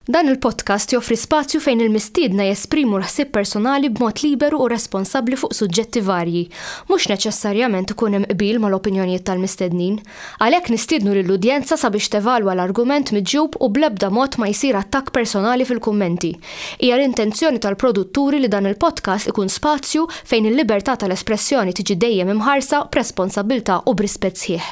Dan il-podcast joffri spazju fejn il-mistiedna jesprimu l-ħsieb personali b'mod liberu u responsabbli fuq suġġetti varji. Mhux neċessarjament ikun hemm qbil mal-opinjonijiet tal-mistednin. Għalhekk nistiednu lill-udjenza sabiex tevalwa l-argument miġjub u bl-ebda mod ma jsir attakk personali fil-kummenti. Hija l-intenzjoni tal-produtturi li dan il-podcast ikun spazju fejn il-libertà tal-espressjoni tiġi dejjem imħarsa b'responsabbiltà u b'rispett sħiħ.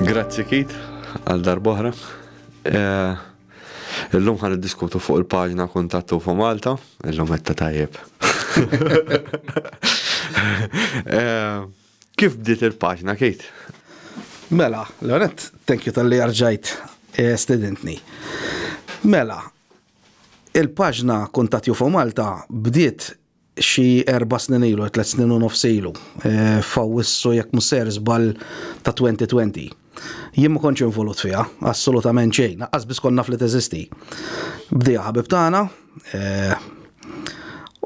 Grazzi Kit, għal darbohra. Eh, illum ħan diskutu fuq il-paġna kontattu fuq Malta, illum għetta tajjeb. Eh, kif bdiet il-paġna, Kit? Mela, l-għonet, thank you tal-li arġajt eh, studentni. Mela, il-paġna Kuntat Jufo Malta bdiet xi erba' snin ilu, tliet snin u nofs ilu, eh, f'Awwissu jekk mhux ser żball ta' 2020. Jien ma kontx involut fiha, assolutament xejn, qas biss kont naf li teżisti. Bdija ħabib tagħna, eh,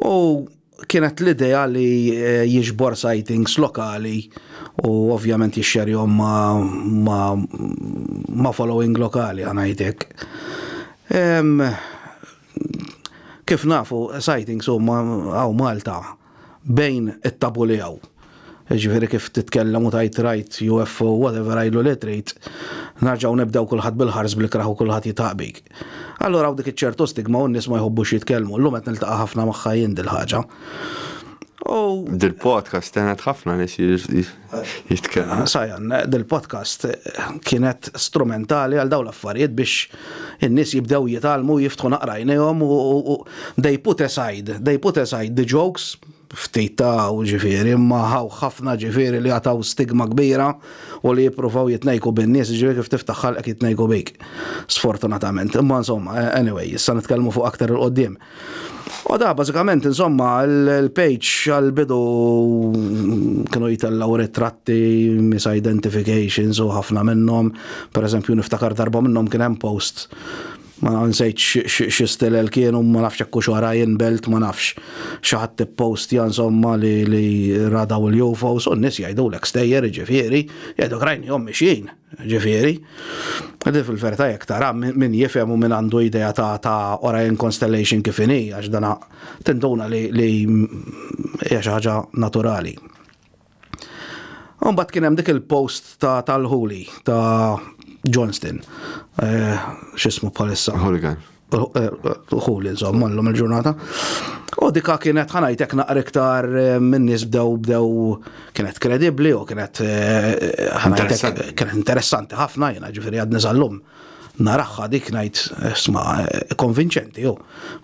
u kienet l-idea li eh, jiġbor sightings lokali u ovvjament jixxerjhom ma, ma, ma following lokali għanajtek. Kif nafu, sightings huma hawn Malta bejn it-tabu li hawn. Jiġifieri kif titkellem u tgħid rajt UFO, whatever I lu li trid, nerġgħu nibdew kulħadd bil-ħars bl-ikrah u kulħadd jitħaq bik. Allura hawn dik iċ-ċertu stigma u n-nies ma jħobbux jitkellmu. Llum qed niltaqa' ħafna magħha jien dil-ħaġa. U. Dil-podcast għenet ħafna nies Jitkellem. Sajan, dil-podcast kienet strumentali għal dawn l-affarijiet biex in-nies jibdew jitgħallmu u jiftħu naqra għajnejhom u they put aside, they put aside the jokes ftit ta' u ġifieri, imma ħaw ħafna ġifieri li għataw stigma kbira u li jippruvaw jitnejku bin-nies ġifieri kif tiftaħ ħalqek jitnejku bik. Sfortunatament. Imma insomma, anyway, issa nitkellmu fuq aktar il-qoddim. U da bażikament insomma l-page għall-bidu kienu jitellgħu ritratti, misidentifications u ħafna minnhom. Pereżempju niftakar darba minnhom kien hemm post ma nsejt xi stilel kienu ma nafx hekk hux wara jinbelt ma nafx. Xi ħadd ippostja insomma li radaw il-UFOs u n-nies jgħidulek stejjer jiġifieri, jgħidulek rajnihom mixjin. Ġifieri, qegħdin fil-verità jekk tara min jifhem u min għandu idea ta' ta' Orion Constellation kif inhi għax dana tinduna li li hija xi ħaġa naturali. Mbagħad kien hemm dik il-post ta' tal-Huli ta' Johnston. Eh, x'ismu bħalissa? Hooligan. uħul insomma l-lum il-ġurnata. U dika kienet ħanajtek naqra iktar eh, minn nies bdew bdew kienet kredibbli u kienet eh, ħanajtek kienet interessanti ħafna jiena ġifieri għadni sal-lum naraħħa dik ngħid eh, sma konvinċenti jew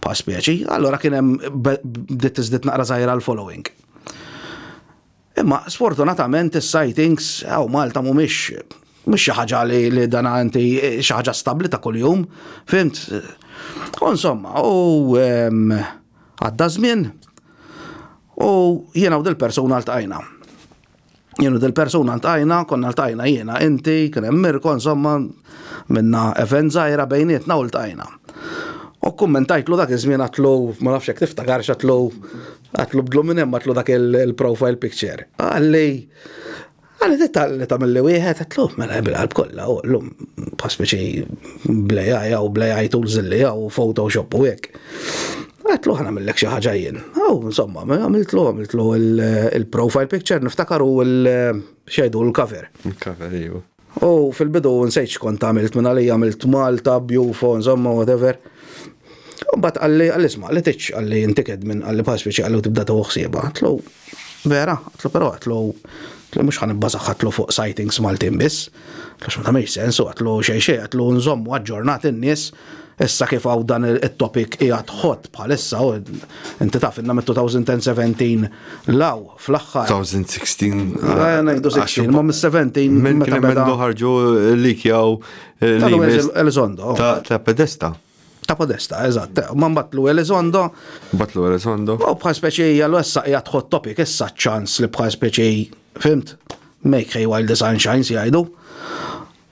pa' spieċi, allora kien hemm bdiet tiżdied naqra żgħira l-following. Imma sfortunatament is-sightings hawn Malta mhumiex mhux xi ħaġa li, li dan inti xi ħaġa stabbli ta' kuljum, fimt? U insomma, u għadda żmien u jiena u dil-persuna ltqajna. Jien u dil-persuna ltqajna, konna ltqajna jiena, inti, kien hemm Mirko, insomma, minna event żgħira bejnietna u ltqajna. U kummentajtlu dak iż-żmien għatlu, ma nafx hekk tiftakar x'għatlu Għatlu bdlu minn hemm għatlu dak il-profile picture. Għalli, għalli titta li tamilli wieħed, għatlu, mela bil-qalb kollha, u l-lum paspeċi blejaj u blejaj tools li għaw Photoshop u hekk. Għatlu ħana millek xi ħaġa jien. Aw, insomma, mela għamiltlu, għamiltlu il-profile picture, niftakar u l-xejdu l-cover. Il-cover, iju. Iva. U fil-bidu nsejt x'kont għamilt minn għalija għamilt Malta, Bjufo, insomma whatever. U mbagħad qalli qalli isma' li tiġ qalli inti kedmin qalli bħal spiċi qallu tibda teħu ħsiebha. Għatlu vera, għatlu però għatlu għatlu mhux ħanibbażaħ għatlu fuq sightings Maltin biss. Għax ma tagħmilx sens u għatlu xejn xejn għatlu nżommu aġġornat in-nies Issa kif hawn dan it-topic qiegħed hot bħalissa, inti taf inna mit-2017 law fl-aħħar. 2016. Ngħidu 16, ma mis-17. Minn kien hemm ħarġu likjaw l-Elizondo. Ta' Pedesta. Ta' Podesta, eżatt. Ma mbatlu Elizondo. Batlu Elizondo. U bħal speċi għallu issa qiegħed hot topic issa ċans li bħal speċi, fimt? Make hay while the sun shines jgħidu.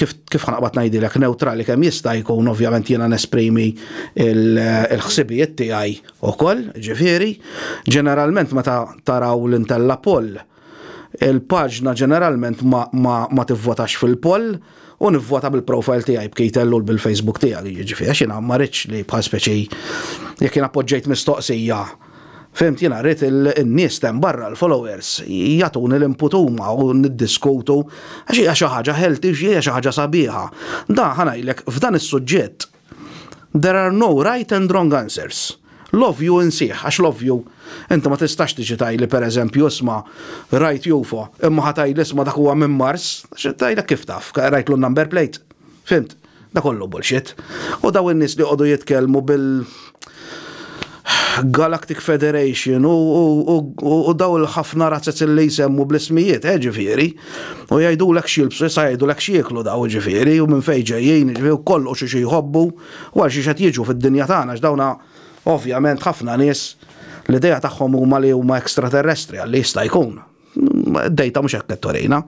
kif kif ħanaqbad ngħidilek neutrali kemm jista' jkun ovvjament jiena nesprimi l-ħsibijiet tiegħi wkoll, ġifieri, ġeneralment meta taraw l-intella poll il-paġna ġeneralment ma, ma, ma tivvotax fil-poll u nivvota bil-profile tiegħi b'Kejtellu bil-Facebook tiegħi, jiġifieri għax jiena ma rridx li bħal speċi jekk jien appoġġejt mistoqsija Fhimt, jiena rrid in-nies t'hemm barra, l-followers, jagħtuni l-input huma u niddiskutu għax hija xi ħaġa healthy, hija xi ħaġa sabiħa. Dan, ħa ngħidlek, f'dan is-suġġett, there are no right and wrong answers. L-ovvju insih, għax l-ovvju, inti ma tistax tiġi tgħidli pereżempju isma' rajt UFO, imma ħa tgħidli isma' dak huwa minn Mars, tgħidlek kif taf, rajtlu n-number plate. Fhimt? Da kollu bullshit. U daw in-nies li joqogħdu jitkellmu bil Galactic Federation u daw il-ħafna razzez li jsemmu bl-ismijiet, eh ġifieri. U jgħidulek x'jilbsu, issa jgħidulek x'jieklu daw ġifieri u minn fejn ġejjin, ġifieri u kollu xi xi jħobbu, u għal xiex qed jiġu fid-dinja tagħna għax dawna ovvjament ħafna nies l-idea tagħhom huma li huma extraterrestri għalli jista' jkun. Dejta mhux hekk qed torejna.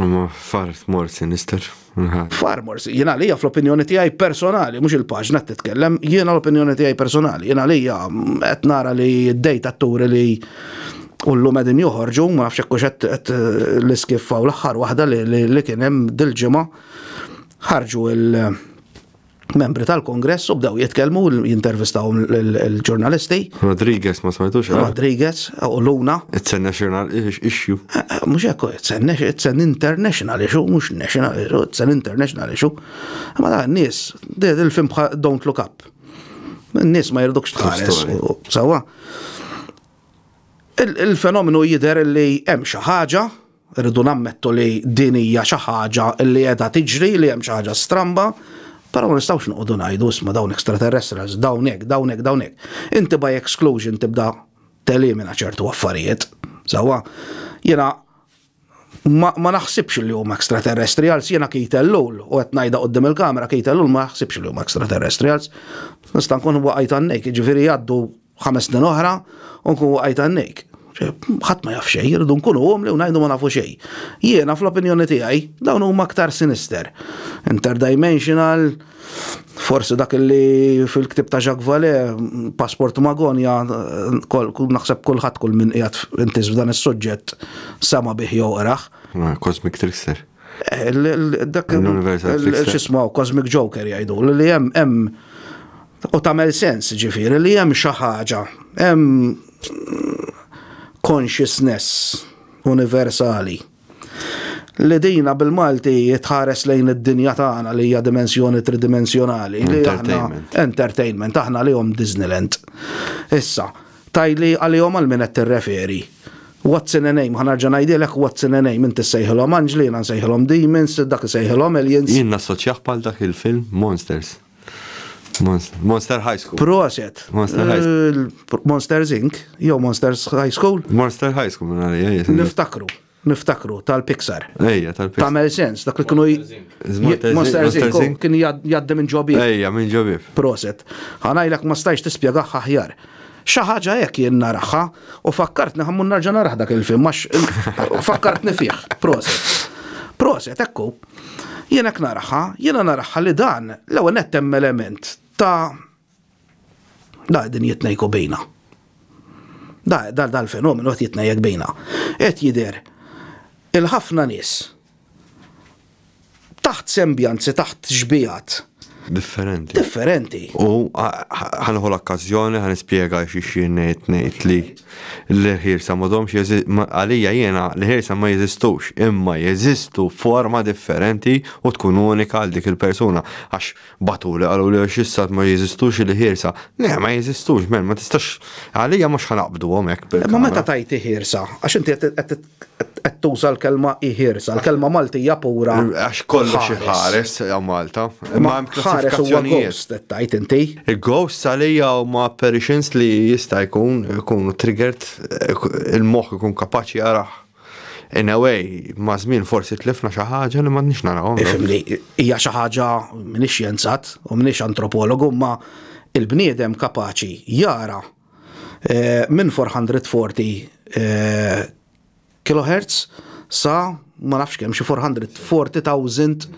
Ma far more sinister. Far more jiena għalija fl-opinjoni tiegħi personali, mhux il-paġna qed titkellem, jiena l-opinjoni tiegħi personali, jiena għalija mm, qed nara li d-dejta turi li u l-lum għedin joħorġu, ma nafx hekk qed l-iskiffa u l-aħħar waħda li kien hemm dil-ġimgħa ħarġu il- membri tal-kongress u bdew jitkellmu jintervistaw l-ġurnalisti. Rodriguez ma smajtux. Eh? Rodriguez u Luna. Itsenna xirnal issue. Eh, eh, mux ekku, itsen international issue, mux national issue, itsen international issue. Ma da, nis, il-film don't look up. Nis ma jirdukx tħares. Sawa. Il-fenomenu jider li hemm xi ħaġa Irridu nammettu li din hija xi ħaġa li qiegħda tiġri, li hemm xi ħaġa stramba, però ma nistgħux noqogħdu ngħidu isma' dawn extraterrestrials, dawn hekk, dawn hekk, dawn hekk. Inti by exclusion tibda telimina ċertu affarijiet. Sewwa, jiena ma, ma naħsibx li huma extraterrestrials, jiena Keith Ellul, u qed ngħidha qudiem il-kamera Keith Ellul ma naħsibx li huma extraterrestrials. Nista' nkun waqajt għannek, jiġifieri jgħaddu Ħames snin oħra u nkun waqajt għannejk. Ħadd ma jaf xejn, irridu nkunu umli u ngħidu ma nafu xejn. Jiena fl-opinjoni tiegħi dawn huma aktar sinister. Interdimensional, forsi dak li fil-ktib ta' Jacques Vallée, Passport Magonja, naħseb kulħadd kull min qiegħed intis f'dan is-suġġett sama bih jew qrah. Cosmic Trickster. Dak il-xismaw Cosmic Joker jgħidu li hemm hemm u tagħmel sens ġifieri li hemm xi ħaġa, hemm consciousness universali li dina bil-Malti jitħares lejn id-dinja tagħna li hija dimensjoni tridimensjonali. Entertainment. Entertainment, aħna li hom Disneyland. Issa, Tgħidli għalihom għal min qed tirreferi. What's in a name, ħa nerġa' ngħidilek what's in a name, inti ssejħilhom anġli, jiena nsejħilhom demons, dak isejħilhom aliens. Jien nassoċjah bħal dak il-film Monsters. Monster High School. Proset. Monster High School. Monsters Inc. jew Monsters High School. Monster High School, minn għalija. Niftakru. Niftakru, tal-Pixar. Ejja, tal-Pixar. Tamel sens, dak li kienu. Monster Zink, kien jaddi minn ġobib. Ejja, minn ġobib. Proset. Għanajlek ma stajx tispiegaħ ħahjar. Xaħġa hekk jien naraħħa u fakkartni ħammun narġa naraħ dak il-film, għax fakkartni fih. Proset. Proset, ekku. Jien hekk naraħħa, jiena naraħħa li dan l-ewwel nettem element ta' Da din jitnejku bejna. Da dal-fenomenu qed jitnejjek bejna. Qed jidher il-ħafna nies taħt sembjanzi, taħt xbijat. Differenti. Differenti. U ħanħu l-okkazjoni ħan ispjega xi xi ngħid ngħid li l-ħirsa m'għadhomx għalija jiena l-ħirsa ma jeżistux, imma jeżistu forma differenti u tkun unika għal dik il-persuna għax Batuli, qaluli għax issa ma jeżistux il-ħiersa. Le, ma jeżistux, men, ma tistax, għalija mhux ħa naqbduhom hekk bil Ma meta tajt iħiersa, għax inti qed tuża l-kelma iħiersa, l-kelma Maltija pura. Għax kollox iħares għal Malta. Ma hemm klassifikazzjonijiet. Ghost qed tajt inti. Ghost għalija huma apparitions li jista' jkun ikunu triggered il-moħħ ikun kapaċi jaraħ. In a way, ma' żmien forsi tlifna xi ħaġa li m'għadniex narawhom. Ifhimni, hija xi ħaġa, m'iniex xjenzat u m'iniex antropologu, imma il-bniedem kapaċi jara minn 440 kilohertz sa ma nafx kemm xi 440,000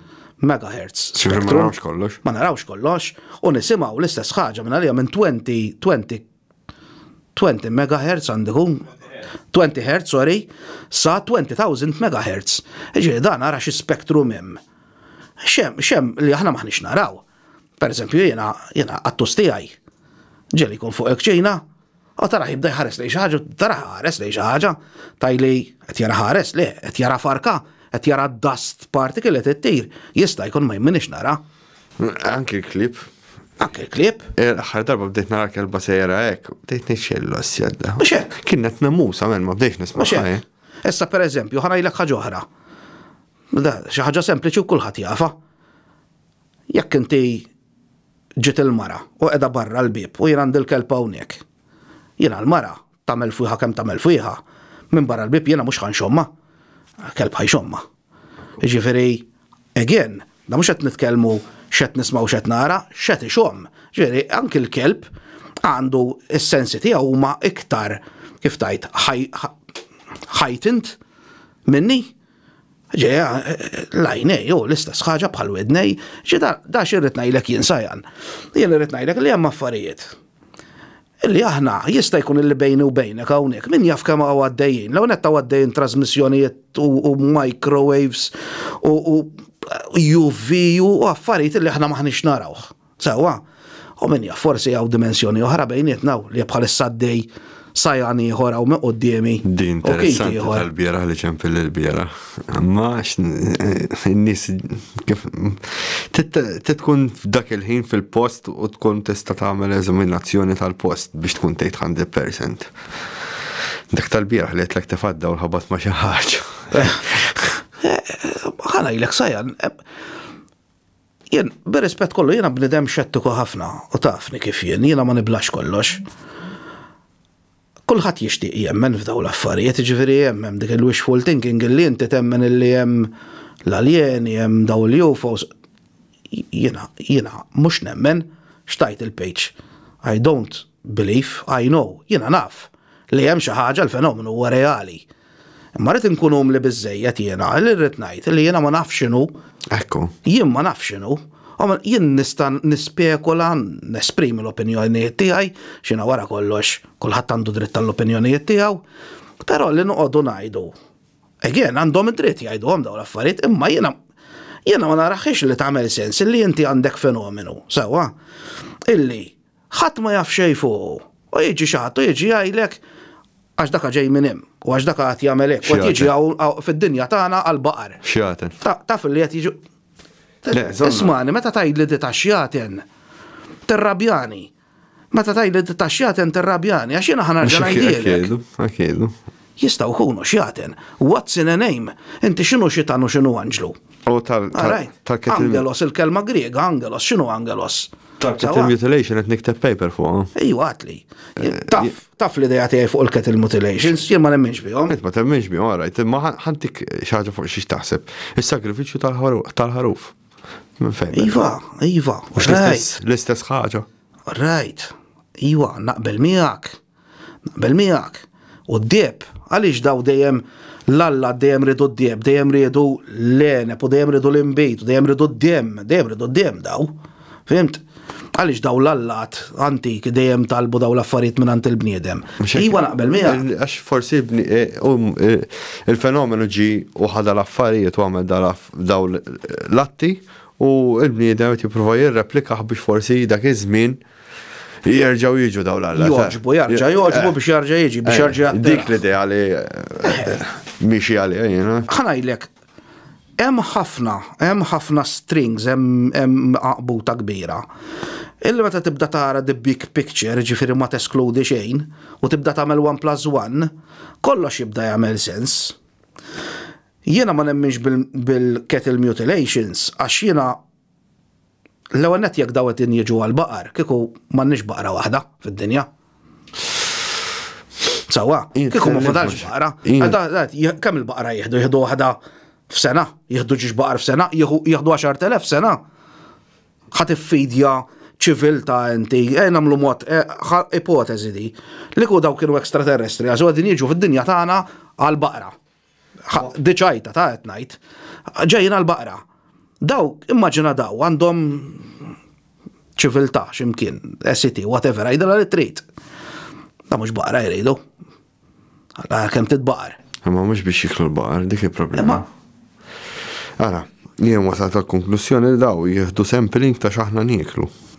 megahertz. Ma narawx kollox. Ma narawx kollox u nisimgħu l-istess ħaġa minn għalija minn 20, 20 20 megahertz għandi hu, 20 hertz, sorry, sa 20,000 megahertz. Ġifieri dan ara xi spektrum hemm. Xem, xem li aħna maħniex naraw. Per eżempju jiena jiena qattus tiegħi ġeli jkun fuq il-kċina, u tara jibda jħares li xi ħaġa, tara ħares li xi ħaġa, tajli qed jara ħares li qed jara farka, qed jara dust particle qed ittir, jista' jkun ma jminix nara. Anki l-klib. Anki l-klib? Eh, l-aħħar darba bdejt nara kelba sejra hekk, bdejt nixxellu s-sjedda. Mhux hekk. Kienet namusa minn ma bdejx nisma' xejn. Issa per eżempju, ħanajlek ħaġa oħra. Xi ħaġa sempliċi u kulħadd jafa. Jekk inti ġiet il-mara u qiegħda barra l-bib u jien għandi l-kelb hawnhekk. Jiena l-mara tagħmel fuħa kemm tagħmel fuħa, minn barra l-bib jiena mhux ħanxomma. Kelb ħajxomma. Jiġifieri, again, da mhux qed nitkellmu x'qed nisma' u x'qed nara, x'qed ixomm. Jiġifieri, anki l-kelb għandu s-sensi tiegħu huma iktar, kif tgħid, heightened minni. Jiġifieri, l-għajnej hu l-istess ħaġa bħall-widnej. Jiġifieri, da x'irrid ngħidlek jien, Sajan? Jien irrid ngħidlek li hemm affarijiet Illi aħna, jista' jkun illi bejni u bejnek hawnhekk, min jaf kemm hawn għaddejjin. L-ewwel nett hawn għaddejjin trażmissjonijiet u microwaves u UV u affarijiet illi aħna m'aħniex narawh. Sewwa? U min jaf, forsi hawn dimensjoni oħra bejnietna hawn li bħalissa għaddej sajgħan ieħor hawn minn quddiemi. Din interessanti tal-bieraħ li ċempilli l-bieraħ. Imma n-nies kif tkun f'dak il-ħin fil-post u tkun tista' tagħmel eżaminazzjoni tal-post biex tkun tgħid 100%. Dak tal-bieraħ li qedlek tifadda u ħabat ma' xi ħaġa. Ħana ilek sajan, jien b'rispett kollu jiena bnidem xettiku ħafna u tafni kif jien, jiena ma niblax kollox. Kulħadd jixtieq jemmen f'dawn l-affarijiet, jiġifieri hemm hemm dik il-wishful thinking illi inti temmen illi hemm l-aljeni, hemm dawn l-UFOs. Jiena, jiena mhux nemmen, x'tgħid il-page? I don't believe, I know, jiena naf li hemm xi ħaġa l-fenomenu huwa reali. Imma rrid inkun umli biżejjed jiena li rrid ngħid li jiena ma nafx x'inhu. Ekku. Jien ma nafx x'inhu. Jien nista' nispekula, nesprimi l-opinjonijiet tiegħi, x'ina wara kollox kulħadd għandu dritt tal-opinjonijiet tiegħu, però li noqogħdu ngħidu. Again, għandhom id-dritt jgħiduhom dawn l-affarijiet, imma jiena jiena ma naraħiex li tagħmel sens illi inti għandek fenomenu, sewwa, illi Ħadd ma jaf xejn fuqu. U jiġi xi ħadd u jiġi jgħidlek, Għax daka ġej minn hemm, u għax daka qagħad jagħmel hekk, u qed jiġi hawn fid-dinja tagħna għall-baqar. Xjaten. Taf li qed jiġu. Ismani, meta tgħidli di ta' xjaten, tirrabjani. Meta tgħidli di ta' xjaten tirrabjani, għax jiena ħa nerġa' ngħidilek. Jistgħu jkunu xjaten. What's in a name? Inti x'inhu xitan u x'inhu anġlu? U tal. All right. Tal-kittim. Angelos, il-kelma Griega, angelos, x'inhu angelos? Tal-kettle mutilation qed nikteb paper fuqha. Ejju għatli. Taf, taf l-idea tiegħi fuq il-kettle mutilations, jien ma nemminx bihom. Int ma temminx bihom, all right, imma ħantik xi ħaġa fuq xiex taħseb. Is-sagrifiċċju tal-ħaruf. Minn fejn? Iva, iva. L-istess ħaġa. All right. Iva, naqbel miegħek. Naqbel miegħek. U d-deheb, għaliex daw dejjem l-allat dejjem riedu d-deheb, dejjem riedu l-għeneb u dejjem riedu l-inbid u dejjem riedu d-demm, dejjem riedu d-demm daw. Fhimt? Għaliex daw l-allat antiki dejjem talbu daw l-affarijiet mingħand il-bniedem. Iwa naqbel miegħek. Għax forsi e, e, il-fenomenu ġi u ħada l-affarijiet u għamel daw l-atti u l-bniedem qed jipprova jirreplikaħ biex forsi dak iż-żmien Jerġaw jiġu daw l-alla. Joġbu, jarġa, joġbu biex jarġa jiġi, biex jarġa jiġi. Dik li di għali miexi għali jena. ħanajlek, hemm ħafna, hemm ħafna strings, hemm għaqbuta kbira. Illi meta tibda tara the big picture, ġifiri ma teskludi xejn, u tibda tagħmel 1 plus 1, kollox jibda jagħmel sens. Jiena ma nemminx bil-cattle mutilations, għax jiena L-ewwel nett jekk dawn qed jiġu għall-baqar, kieku m'għandniex baqra waħda fid-dinja. Sewwa, kieku ma fadalx baqra, kemm il-baqra jieħdu? Jieħdu waħda f'sena? Jieħdu ġiex baqar f'sena? Jieħdu 10,000 f'sena? Ħa tiffidja ċiviltà inti, eh, nagħmlu mod, eh, ipoteżi di, li ku daw kienu ekstraterrestri, għażu qegħdin jiġu fid-dinja tagħna għall-baqra. Diċajta ta' qed ngħid. Ġejjin għall-baqra. Daw, immaġina daw, għandhom ċiviltà x'imkien, SCT, whatever, għidilha li trid. Da mhux baqra jridu. Kemm titbaqar. Imma mhux biex jiklu l-baqar, dik il-problema. Ara, jien wasal tal-konklussjoni li daw jieħdu sampling ta' xaħna nieklu.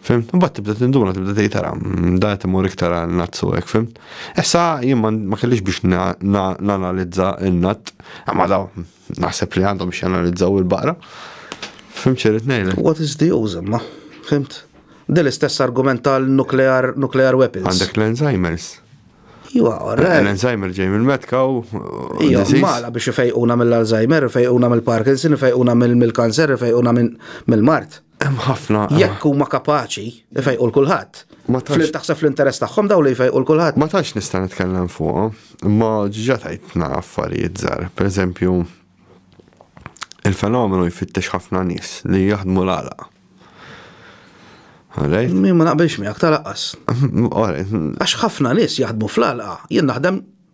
Fim? Mbagħad tibda tinduna, tibda tgħid tara, mm, da qed imur iktar għal nazzu hekk, fim? Issa jien ma kellix biex nanalizza n-natt, imma daw naħseb li għandhom biex janalizzaw il-baqra. Fim ċerit ngħidlek. What is the use imma? Fimt? Del istess argument tal-nuclear nuclear weapons. Għandek l-Alzheimer's. Iwa, eh, L-Alzheimer ġej mill-metka u. Iwa, mala biex fejquna mill-Alzheimer, fejquna mill-Parkinson, fejquna mill-kanser, fejquna mill-mart. Hemm ħafna. Jekk huma kapaċi ifejqu l kulħadd. Ma tantx taħseb fl-interess tagħhom dawn li jfejqu l kulħadd. Ma tantx nista' nitkellem fuqhom, imma ġiġa tajtna affarijiet żgħar. Pereżempju, il-fenomenu jfittex ħafna nies li jaħdmu l-għalaq. Alright? Min ma naqbilx miegħek talaqqas. Alright. Għax ħafna nies jaħdmu fl-għalqa, jien naħdem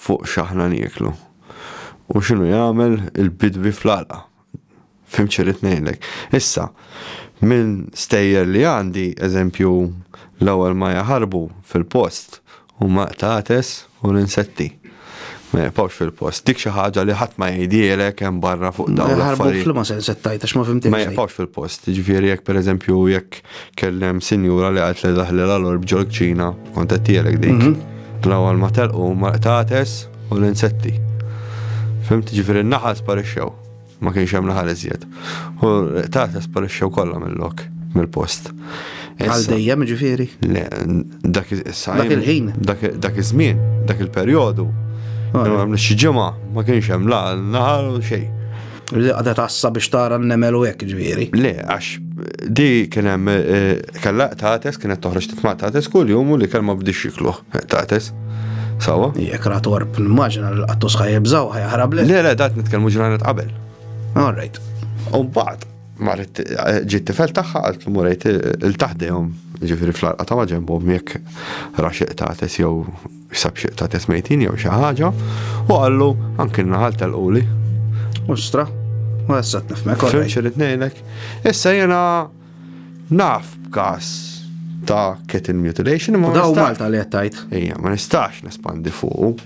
fuq x'aħna nieklu u x'inhu jagħmel il-bidwi fl-għalqa. Fhimt xi rrid ngħidlek. Issa, minn stejjer li għandi, eżempju, l-ewwel ma jaħarbu fil-post huma qtates u l-insetti. Ma jibqgħux fil-post. Dik xi ħaġa li ħadd ma jgħidhielek hemm barra fuq dawn l-affarijiet. Ma jibqgħux fil-post, jiġifieri jekk pereżempju jekk Kellem sinjura li għalt li daħli l-alorb ġol kċina, kont qed tielek dik. Mhm. L-ewwel ma telqu ma qtates u l-insetti. Fimt ġifieri n-naħal sparixxew. Ma kienx hemm naħal iżjed. U qtates sparixxew kollha mill-lok, mill-post. Għal dejjem ġifieri? Le, dak il-ħin. Dak iż-żmien, dak il-perjodu. Għamlu xi ġimgħa ma kienx hemm la naħal u xejn. Li għadha tassa biex tara n-nemel u hekk ġifieri. Le, għax di kien hemm eh, kellha tates kienet toħroġ titma' tates kull jum u li kelma bdix jikluh eh, tates. Sawa? Jek ratorb, nimmaġina li l-qattus ħajibżaw ħajħrab Le, le, dat nitkellmu ġranet qabel. All right. U mbagħad marret eh, ġiet tifel tagħha għalt li murejt il-taħdejhom ġifieri fl-arqa ta' maġenbhom jekk raxeq tates jew Sab xieq ta' tesmejtin jew xi ħaġa u qallu anki naħal tal-quli. Ustra, u għessat nifmek. Fim xirrit nejlek. Issa jena naf b'kas ta' kettle mutilation. Ma daw Malta li għattajt. Ija, ma nistax nespandi fuq.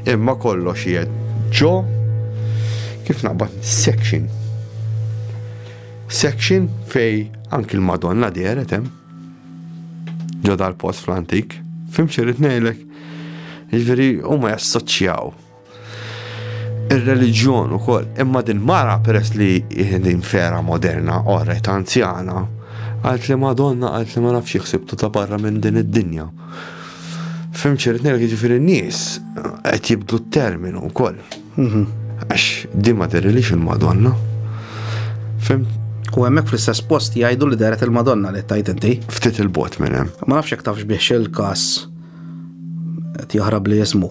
Imma kollox jed ġo kif naqbad section. Section fej anki l-Madonna deret hemm. ġo dal-post fl-antik. Fim xirrit nejlek, ġveri, u ma jassoċjaw il-reġjon u koll, imma din mara peress li din fera moderna, orret anzjana, għalt li madonna għalt li ma nafx jħsibtu ta' barra minn din id-dinja. Fim xirrit nejlek, ġveri, nis, għet jibdu t-terminu u koll. Għax di ma derilix il-Madonna. Fem? U hemmhekk fl-istess post jgħidu li deret il-Madonna li tajt inti. Ftit il-bot minn hemm. Ma nafx jekk tafx bih il-każ qed jaħrab li jismu.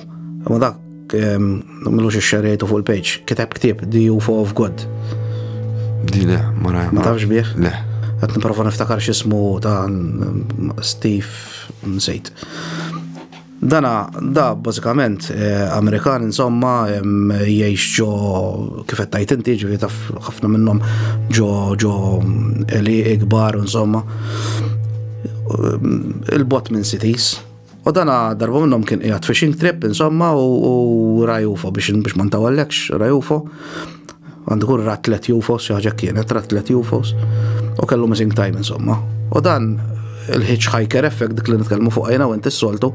Ma dak mlux ix-xerejtu fuq il-page, kiteb ktieb The UFO of God. Di le, ma rajma. Ma tafx bih? Le. Għat niprofa niftakar xismu ta' Steve Nsejt. Dana da bażikament Amerikan insomma jgħix ġo kif qed tgħid inti ġifieri taf ħafna minnhom ġo ġo li ikbar insomma il-bot minn cities. U dana darba minnhom kien qiegħed fishing trip insomma u rajufo biex biex ma ntawallekx rajufo. Għandu jkun rat tliet UFOs, xi ħaġa kienet, rat tliet UFOs, u kellu missing time insomma. U dan il-hitchhiker effect dik li nitkellmu fuq għajna u inti s-soltu,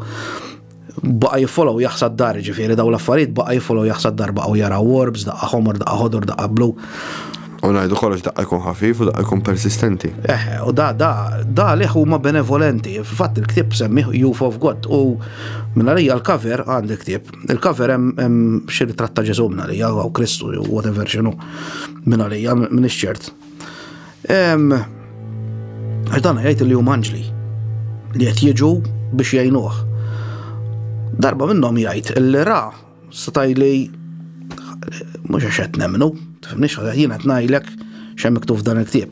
baqa jiffollow jaħsad dar ġifiri daw l-affarijiet baqa jiffollow jaħsad dar baqa u jara warbs, daqqa homor, daqqa ħodor, daqqa blu. U najdu kollox daqqa jkun ħafif u daqqa jkun persistenti. Eh, u da, da, da liħ huma benevolenti. Fatt il-ktib semmiħ Youth of God u minna li l-cover għandi ktib Il-cover hemm xi ritratt ta' Ġesu minn għalija, jew Kristu, jew whatever xinu minn għalija, minn ix-ċert. Għax dan jgħid li huma anġli li qed jiġu biex jgħinuh. Darba minnhom jgħid li ra setaj li mhux għax qed nemmnu, tifhimniex jiena qed ngħidlek x'hemm miktub dan il-ktieb.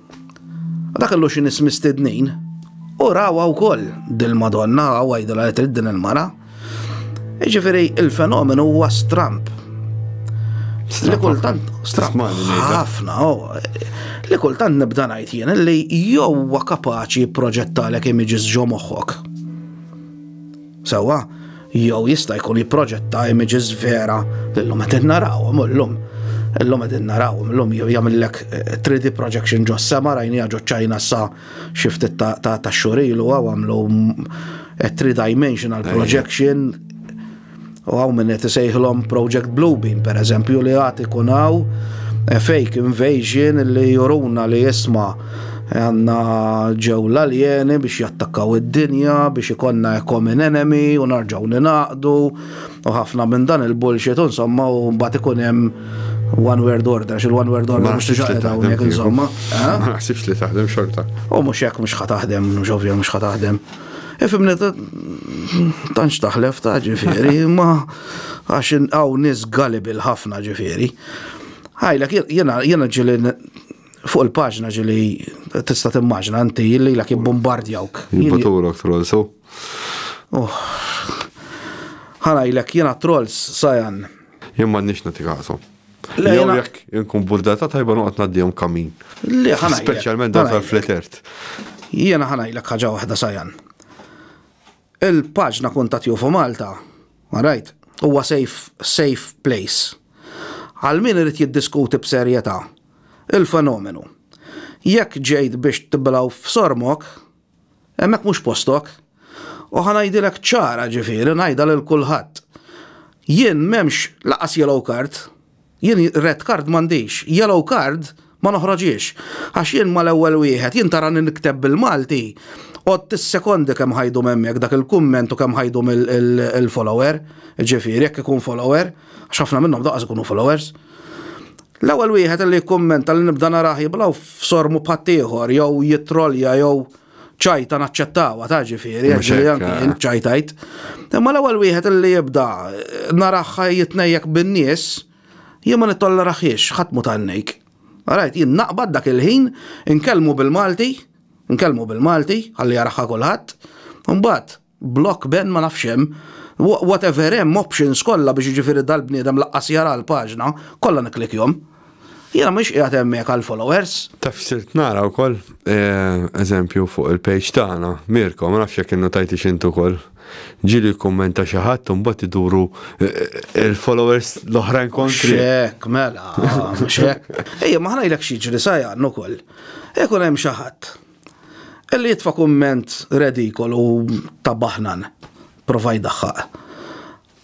Dak kellu xi nies mistednin u rawha wkoll dil-Madonna u għajdilha li trid din il-mara. Jiġifieri il-fenomenu huwa stramp. Li kultant stramp ħafna, oh. li kultant nibda ngħid jien li jew huwa kapaċi proġettalek images ġo moħħok. Sewwa, jew jista' jkun jipproġetta images vera li llum qed narawhom illum. Illum qed narawhom illum jew jagħmillek 3D eh, projection ġo sema rajniha ġo ċajna sa xi ftit ta' xhur ilu għaw għamlu eh, three dimensional projection u għaw minn qed isejħlhom Project Bluebeam pereżempju li għad ikun hawn eh, fake invasion li juruna li jisma' Għanna ġew l-aljeni biex jattakkaw id-dinja, biex ikonna a common enemy u narġaw ninaqdu u ħafna minn dan il-bullshit u insomma u mbagħad ikun hemm one word order, xil one word order mhux tiġa qed hawnhekk insomma. Ma naħsibx li taħdem xorta. U mhux hekk mhux ħa taħdem, mhux ovvja mhux ħa taħdem. Ifimni tanċ taħlef ta' ġifieri, ma għax hawn nies gullible ħafna ġifieri. Ħajlek jiena ġili fuq il-paġna ġili tista timmaġna inti li la jibbombardjawk. Jibbatulok trolls, u. Oh. Ħana jilek jena trolls sajan. Jien ma nix nati kasom. Jew jekk inkun burdata tajba noqgħod ngħaddihom kamin. Le ħana. Speċjalment dan tal-fletert. Jiena ħana jilek ħaġa waħda sajan. Il-paġna Kuntatt Jufu Malta, right, huwa safe, safe place għal min irid jiddiskuti b'serjetà il-fenomenu. Jekk ġejt biex tiblaw f'sormok, hemmhekk mhux postok. U ħa ngħidilek ċara ġifieri ngħidha lil kulħadd. Jien m'hemmx lanqas yellow card. Jien red card m'għandix, yellow card ma noħroġhiex. Għax jien mal-ewwel wieħed, jien tarani nikteb bil-Malti, għodt tissekondi kemm ħa jdum hemmhekk dak il-kumment u kemm ħa jdum il-follower, ġifieri jekk ikun follower, għax ħafna minnhom daqqas ikunu followers. L-ewwel wieħed li jikkummenta li nibda narah jiblaw f'sormu b'ħaddieħor jew jittrollja jew ċajta naċċettawa ta' ġifieri, għax li anki jien ċajtajt. Imma l-ewwel wieħed li jibda naraħħa jitnejjek bin-nies, jien ma nittolleraħiex ħadd mu tannejk. Rajt, jien naqbad dak il-ħin, nkellmu bil-Malti, nkellmu bil-Malti, ħalli jaraħħa kulħadd, mbagħad Block Ben ma nafx hemm. Whatever hemm options kollha biex jiġifieri dal-bniedem laqqas jara l-paġna, kollha nikklikkjhom. Jiena m'iniex qiegħed hemmhekk għall-followers. Taf sirt nara wkoll? Eżempju fuq il-page tagħna, Mirko, ma nafx jekk innutajtix int ukoll, ġieli jikkummenta xi ħadd u mbagħad iduru l-followers l-oħrajn kontrih. Mhux hekk, mela, mhux hekk. Ejja, ma ħa ngħidlek x'jiġri sa Jan ukoll. Ikun hemm xi ħadd. Ellie itfa' kumment redikolu u ta' baħnan. Prova jdaħħaq.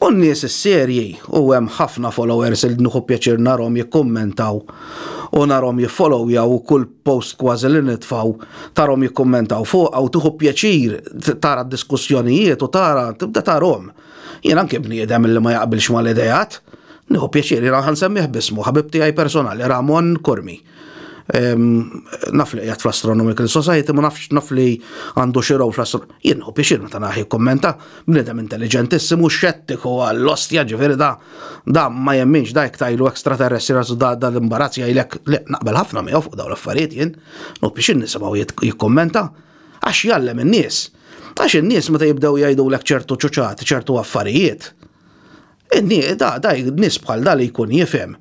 U n-nies is-serji, u hemm ħafna followers li nieħu pjaċir narhom jikkummentaw u narhom jiffollowjaw u kull post kważi li nitfgħu tarhom jikkummentaw fuqha u tieħu pjaċir tara d-diskussjonijiet u tara tibda tarhom. Jien anki bniedem li ma jaqbilx mal-ideat. Nieħu pjaċir, jiena ħa nsemmih b'ismu, ħabib tiegħi personali, Ramon Curmi. Naf li qiegħed fl-Astronomical Society, ma nafx naf li għandu xi row fl-astro. Jien u biex meta naħi kommenta, bniedem intelliġentissimu xettiku għall-ostja ġifieri da da ma jemminx da jekk tajlu extraterrestri rasu da da l-imbarazz jgħidlek li naqbel ħafna miegħu fuq dawn l-affarijiet jien, u biex nisimgħu jikkommenta għax jgħallem in-nies. Għax in-nies meta jibdew jgħidulek ċertu ċuċat, ċertu affarijiet. In-nies da da nies bħal da li jkun jifhem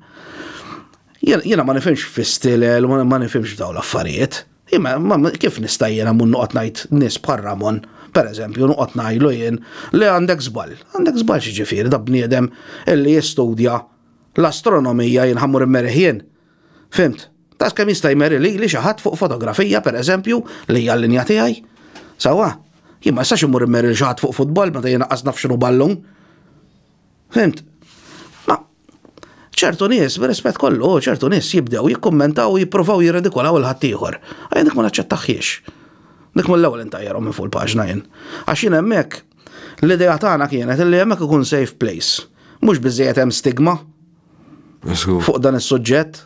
Jiena ma nifhimx fistilel, ma nifhimx f'daw l-affarijiet. Imma kif nista' jiena mun noqgħod ngħid nies bħal Ramon, pereżempju, noqgħod ngħidlu jien li għandek żball. Għandek żball x'ġifieri da bniedem illi jistudja l-astronomija jien ħa mmur immerih jien? Fhimt? Daqs kemm jista' jmeri lili xi ħadd fuq fotografija, pereżempju, li hija l-linja tiegħi. Sewwa? Jien ma nistax immur immeri lil xi ħadd fuq futbol meta jien qas naf x'inhu ballun. Fhimt? Ma ċertu nies, b'rispett kollu, ċertu nies jibdew jikkummentaw u jippruvaw jirredikolaw il-ħaddieħor. Għajja dik ma naċċettaħiex. Dik mill-ewwel intajjarhom minn fuq il-paġna jien. Għax jien hemmhekk l-idea tagħna kienet li hemmhekk ikun safe place. Mhux biżejjed hemm stigma fuq dan is-suġġett.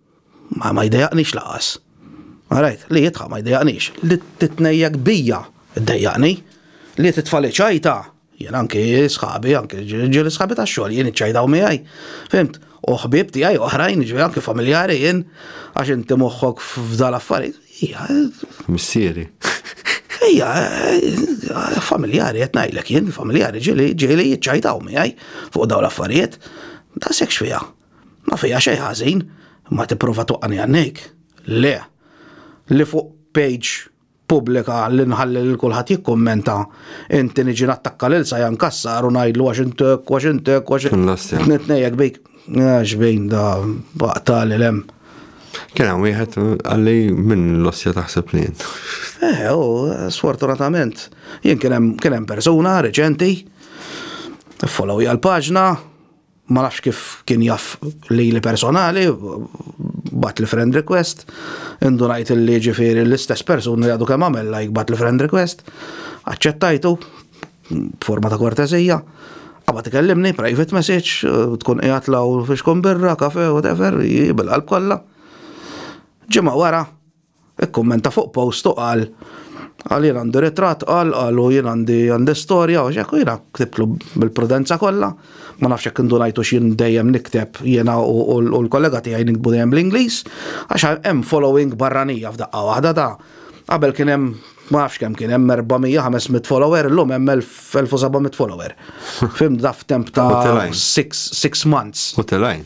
Ma ma jdejaqnix laqas. Għarajt, li jitħaq ma jdejaqnix. Li titnejjek bija, ddejjaqni. Li titfali ċajta, jien anki sħabi, anki ġili sħabi ta' xogħol, jien iċċajdaw miegħi. Fimt? U ħbib tiegħi oħrajn, ġifieri anki familjari jien, għax inti moħħok f'dal affarijiet. Ija. Missieri. Ija, familjari qed ngħidlek jien, familjari ġili ġili jiċċajdaw miegħi fuq dawn l-affarijiet. Ta' sekx fija. Ma fija xejn ħażin, ma tipprova twaqqani għannejk. Le, li fuq page pubblika li nħalli lil kulħadd jikkummenta, inti niġi nattakka lil Sajan Cassar u ngħidlu għax int hekk, għax int hekk, għax int. Lastja. Nitnejjek bik. Għax bejn da baqtali lem. Kien hemm wieħed għalli minn l-ossja taħseb li jien. Eh, u sfortunatament, jien kien hemm persuna reċenti, follow l-paġna, Ma nafx kif kien jaf li li personali, bat li friend request, indunajt li ġifiri l-istess persuna li għadu kemm għamel like bat li friend request, aċċettajtu, forma ta' kortezija, għabba tikellimni, private message, tkun qiegħed law fiex kun birra, kafe, whatever, bil-qalb kollha. Ġimgħa wara, Ikkummenta fuq post u qal għal jien għandi ritratt qal qalu jien għandi għandi storja u xekku jiena ktibtlu bil-prudenza kollha. Ma nafx jekk indunajtu x'jien dejjem nikteb jiena u l-kollega tiegħi nikbu dejjem bl-Ingliż għax hemm following barranija f'daqqa waħda ta' qabel kien hemm ma nafx kemm kien hemm 400-500 follower illum hemm 1700 follower. Fim daf temp ta' 6 months. U telajn.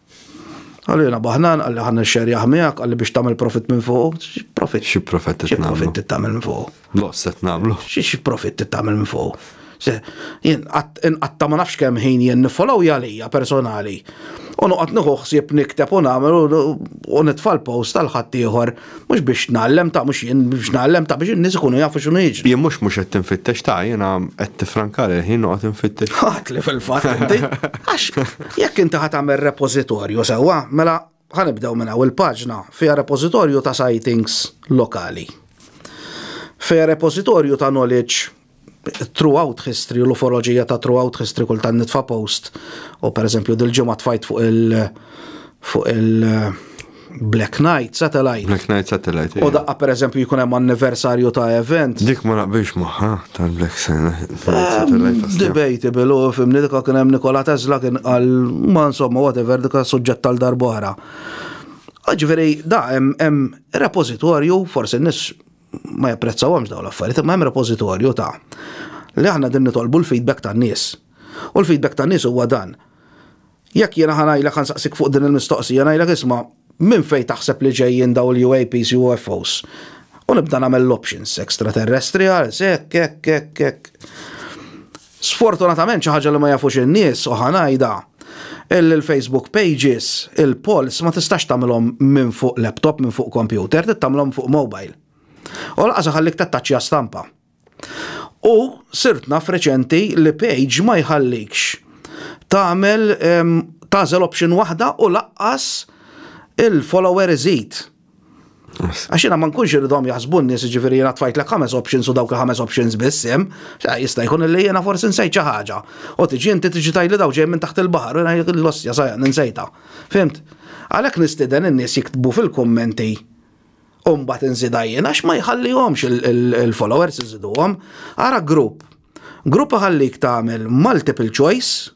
Għalli jena baħnan, għalli ħan xerjaħ miegħek, għalli biex tagħmel profit minn fuq. Profit. Xi profit Xi profit tagħmel minn fuq. Loss qed nagħmlu. Xi profit tagħmel minn fuq. Jien qatta ma nafx kemm ħin jien nifollow jalija personali. U noqgħod nieħu ħsieb nikteb u nagħmel u nitfal post tal ħaddieħor Mhux biex nagħallem ta' mhux jien biex nagħallem ta' biex in-nies ikunu jafu x'inhu jiġri. Jien mhux mhux qed tinfittex ta' jiena qed tifrankar il-ħin noqgħod infittex. Ħadd li fil-fatt inti. Għax jekk inti ħadd tagħmel repożitorju sewwa, mela ħanibdew minn hawn il-paġna fiha repożitorju ta' sightings lokali. Fiha repożitorju ta' knowledge throughout history u l-ufoloġija ta' throughout history kultant nitfa' post u pereżempju dil-ġimgħa tfajt fuq il- fuq il- eh, Black Knight Satellite. Black Knight Satellite. U daqqa per eżempju jkun hemm anniversarju ta' event. Dik ma naqbilx magħha tal-Black Satellite. Ehm, debatable u fimni dikha kien hemm Nikola Tesla kien qal ma insomma whatever dikha suġġett tal darbohra. Ġifieri da hemm repożitorju forsi nis ma japprezzawhomx dawn l-affarijiet, imma hemm repożitorju ta' li aħna din nitolbu l-feedback tan-nies. U l-feedback tan-nies huwa dan. Jekk jiena ħanajlek ħansaqsik fuq din il-mistoqsija ngħidlek isma' minn fejn taħseb li ġejjin daw il-UAPs, UFOs? U nibda nagħmel l-options, extraterrestrials, hekk, hekk, hekk, hekk. Sfortunatament xi ħaġa li ma jafux in-nies u ħa ngħidha, il-Facebook pages, il-polls ma tistax tagħmilhom minn fuq laptop, minn fuq kompjuter, trid tagħmilhom fuq mobile. U lanqas iħallik tattaċċja stampa. U sirt naf reċenti li page ma jħallikx tagħmel tagħżel option waħda u lanqas il-follower iżid. Għax jiena ma nkunx irridhom jaħsbu n-nies ġifieri jiena tfajtlek ħames options u dawk il-ħames options biss hemm, jista' jkun li jiena forsi nsejt xi ħaġa. U tiġi inti tiġi tgħidli daw ġej minn taħt il-baħar, l-ossja sajja ninsejta. Fimt? Għalhekk nistieden in-nies jiktbu fil-kummenti u mbagħad inżidha jien għax ma jħallihomx il-followers iżiduhom. Ara grupp. Grupp iħallik tagħmel multiple choice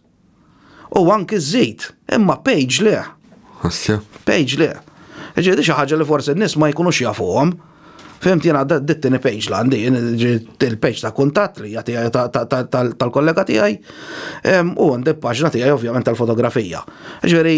U anki żżid, imma page le. Asja. Page le. Ġiedi xi ħaġa li forsi n-nies ma jkunux jafuhom. Fimti jiena dittini page la għandi, il-page ta' kuntatt li tal-kollega tiegħi u għandi paġna tiegħi ovvjament tal-fotografija. Ġifieri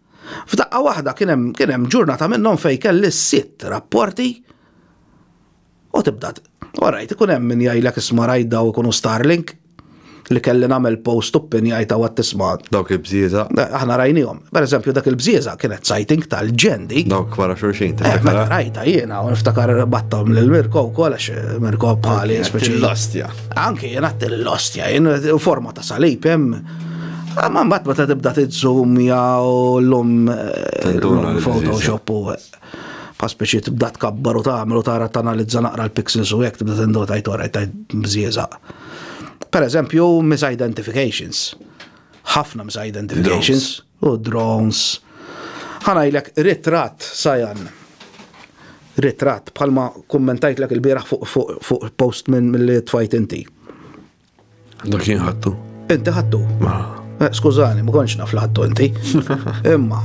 F'daqqa waħda kien hemm kien hemm ġurnata minnhom fejn kelli sitt rapporti u tibda Orajt, ikun hemm min jgħidlek isma' rajt daw ikunu Starlink li kelli nagħmel post u pin jgħid għad tisma' Dawk il-bżieża. Aħna rajnihom. Per eżempju dak il-bżieża kienet sajting tal-ġendi. Dawk wara xulxin ta' eh, Meta rajta jiena u niftakar battom lil Mirko wkoll għax eh, Mirko bħali speċi. L-ostja. Anke jiena l-ostja, jien forma ta' salib hemm Ma mbagħad meta tibda tiżżum jew llum eh, Photoshop u eh, pa speċi tibda tkabbar u tagħmel u tara tanalizza naqra l-pixels u hekk tibda tindota tajt ora tajt mżieża. Per eżempju, misidentifications. Ħafna misidentifications u drones. Ħanajlek ritrat sajan. Ritrat bħalma kummentajt l il-bieraħ fuq post minn mill-li tfajt inti. Dak jien ħattu. Inti ħattu? Ma. Eh, skużani, ma konċ naf ħattu inti. Imma,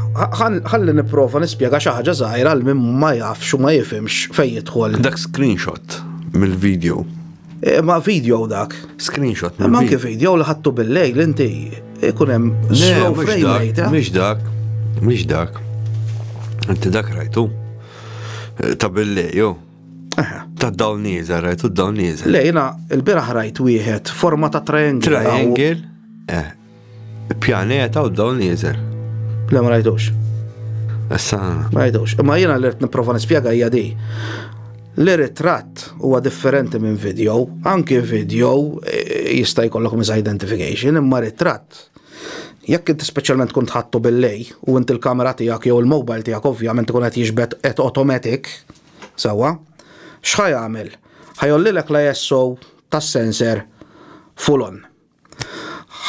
ħalli niprofa nispjega xi ħaġa żgħira għal min ma jafx u ma jifimx fejn jidħol. Dak screenshot mill-video. Eh, ma video dak. Screenshot. Ma anke video li ħattu bil-lejl inti ikun eh, hemm slow frame rate. Mhix dak, mhix dak. Inti dak rajtu. Ta' bil-lejl, Ta' dawn nieżel, rajtu dawn nieżel. Lejna, il-biraħ rajt wieħed, forma ta' triangle. Triangle, eh, pjaneta u dawn nieżel. Le, ma rajtux. Issa. Ma rajtux. Imma jiena l-irt niprofa nispjega hija di. L-ritratt huwa differenti minn video, anki video eh, jista' jkollok misidentification, imma ritratt jekk inti speċjalment kont ħattu bil-lej u inti l-kamera tiegħek jew il-mobile tiegħek ovvjament ikun qed jiġbed qed automatic, Sewwa. X'ħa jagħmel? Ħa jgħollilek l-ISO tas-sensor full on.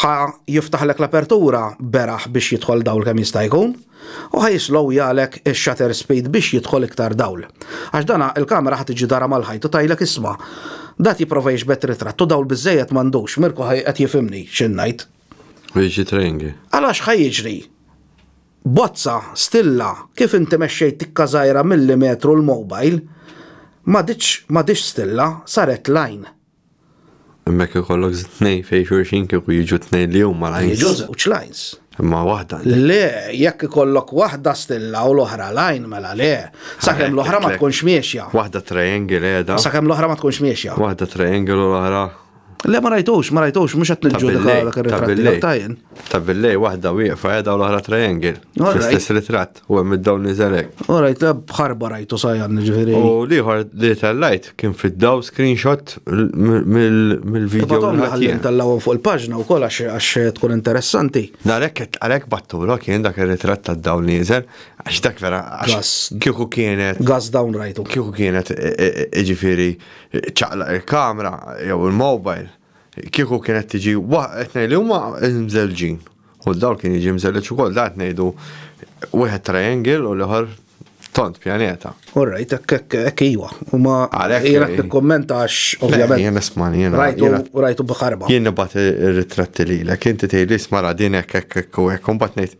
Ħa jiftaħlek l-apertura beraħ biex jidħol dawl kemm jista' jkun u ħa jislowjalek ix-shutter speed biex jidħol iktar dawl. Għax dan il-kamera ħa tiġi darha mal-ħajt u tgħidlek isma' dat jipprova jixbed ritratt u dawl biżżejjed m'għandux. Mirko qed jifhimni x'in ngħid. Jiġi training. Għalax ħa jiġri? Bozza, Stilla, kif inti mexxejt tikka żgħira milli metru l-mobile, m'għaditx m'għadhiex stilla, saret line. Hemmhekk ikollok tnejn fejn xulxin kieku jiġu tnejn li huma lines. Jiġu żewġ lines. Imma waħda. Le, jekk ikollok waħda stilla u l-oħra line mela le. Sakemm l-oħra ma tkunx miexja. Waħda triangle qiegħda. Sakemm l-oħra ma tkunx miexja. Waħda triangle u l-oħra Le ma rajtux, ma rajtux, mux għat nġudika dak il-ritratti għak tajn. Ta' billej, wahda wieqfa edha u l-ohra triangle. Fl-istess ritrat, u għem id-dawn nizelek. U rajt, bħarba rajtu sajan ġifiri. U liħor li tal-lajt kien fid-daw screenshot mill-video. Għallin tal-law fuq il-pagġna u kol għax tkun interessanti. Narek, għalek batturo kien dak il-ritrat ta' dawn nizel, għax dak vera, għax kieku kienet. Gas down rajtu. Kieku kienet, ġifiri, Ċċaqlaq il-kamera jew il-mobile kieku kienet tiġi qed ngħid li huma mżelġin. U d-dawl kien jiġi mżelleġ ukoll, da qed ngħidu wieħed triangle u l-ieħor tont pjaneta. All right, hekk iwa. Huma jiena qed nikkummenta għax ovvjament. Jien nisma' jiena. Rajtu rajtu b'ħarba. Jien nibgħat ir-ritratti lilek, inti tgħidli isma' ra din hekk hekk hekk u hekk u mbagħad ngħid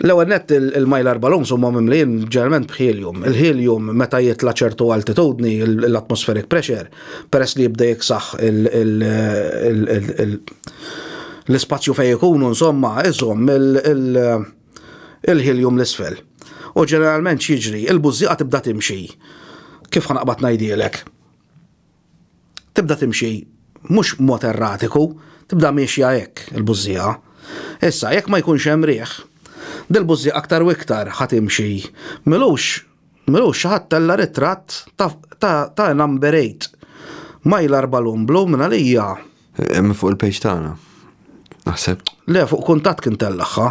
L-ewwel nett il-mylar balloons huma mimlijin ġeneralment b'helium. Il-helium meta jitla' ċertu altitudni l-atmospheric pressure peress li jibda jiksaħ l-ispazju fejn ikunu insomma iżomm il-helium l-isfel. U ġeneralment x'jiġri? Il-bużżieqa tibda timxi. Kif ħa naqbad ngħidhielek? Tibda timxi mhux b'mod erratiku, tibda miexja hekk il-bużżieqa. Issa, jekk ma jkunx hemm riħ, dil-bużżieqa aktar u iktar ħa timxi. M'ilux, m'ilux xi ħadd tella' ritratt ta' ta' a number eight, mylar balloon blu minn għalija. Hemm fuq il-page tagħna, naħseb. Le, fuq kuntatt kien tellagħha.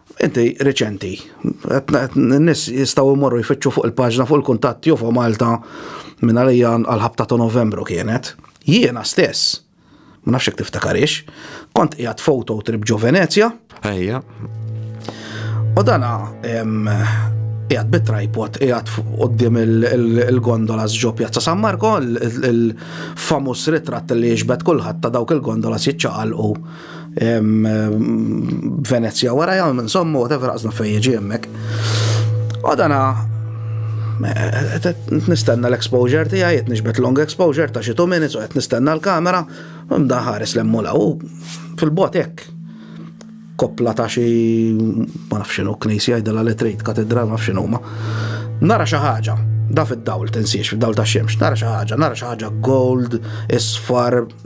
Inti reċenti, n-nis jistaw imorru jfittxu fuq il-paġna fuq il-kuntatt jofo Malta minn għalija għal-ħabta ta' novembru kienet. Jiena stess, ma nafx tiftakarix, kont qiegħed foto trip ġo Venezja. Ejja. U dana qiegħed bit-tripod qiegħed qudiem il-gondola ġo Pjazza San Marko, il-famus ritratt li jiġbed kulħadd ta' dawk il-gondola jiċċaqalqu Venezia wara jgħam, insomma, whatever għazna fej jieġi jemmek. U dana, eh, nistenna l-exposure tija, jiet nixbet long exposure ta' xi 2 minutes u għet nistenna l-kamera, mda ħares l-emmula u fil-bot ek. Koppla ta' xi, ma nafxinu, knisi għajdela li trid, katedra, ma nafxinu ma. Nara xi ħaġa, da fid-dawl, tinsiex, fid-dawl ta' xemx, nara xi ħaġa, nara xi ħaġa gold, isfar,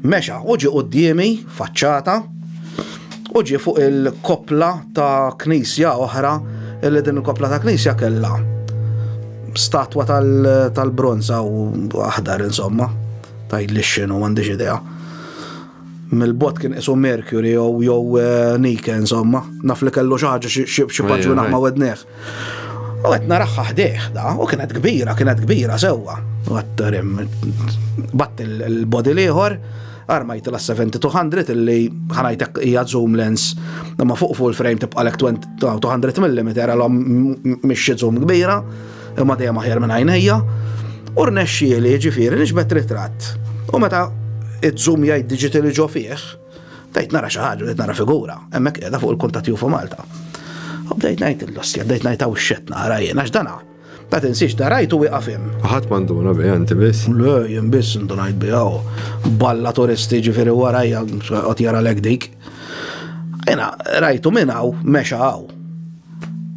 Mexa u ġie quddiemi, faċċata, u ġie fuq il-koppla ta' knisja oħra, illi din il-koppla ta' knisja kellha statwa tal-bronza u aħdar insomma, tgħidli x'inhu m'għandix idea. Mill-bot kien isu Mercury jew jew eh, Nike insomma, naf li kellu xi ħaġa xi paġuna ma' wedneħ. U qed naraħħa ħdejh da, u kienet kbira, kienet kbira sewwa. Batt il-body l-ieħor, armajt la 70-200 illi ħanajtek hija zoom lens ma fuq full frame tibqa' lek 200 mm għalhom mhix zoom kbira imma dejjem aħjar minn għajnejja. U rnexxieli ġifieri nixbet ritratt. U meta iż-zoom jgħid digitali ġo fih, Bdejt nara xi ħaġa, bdejt nara figura, hemmhekk qiegħda fuq il-kuntat Jufu Malta. U bdejt ngħid l-ostja, bdejt ngħid hawn x'qed nara jien għax dana. Ta' tinsiex da rajt u wieqaf hemm. Ħadd m'għanduna biha inti biss? Le, jien biss indunajt biha u balla turisti ġifieri warajja qed jara lek dik. Jiena rajtu minn hawn mexa hawn.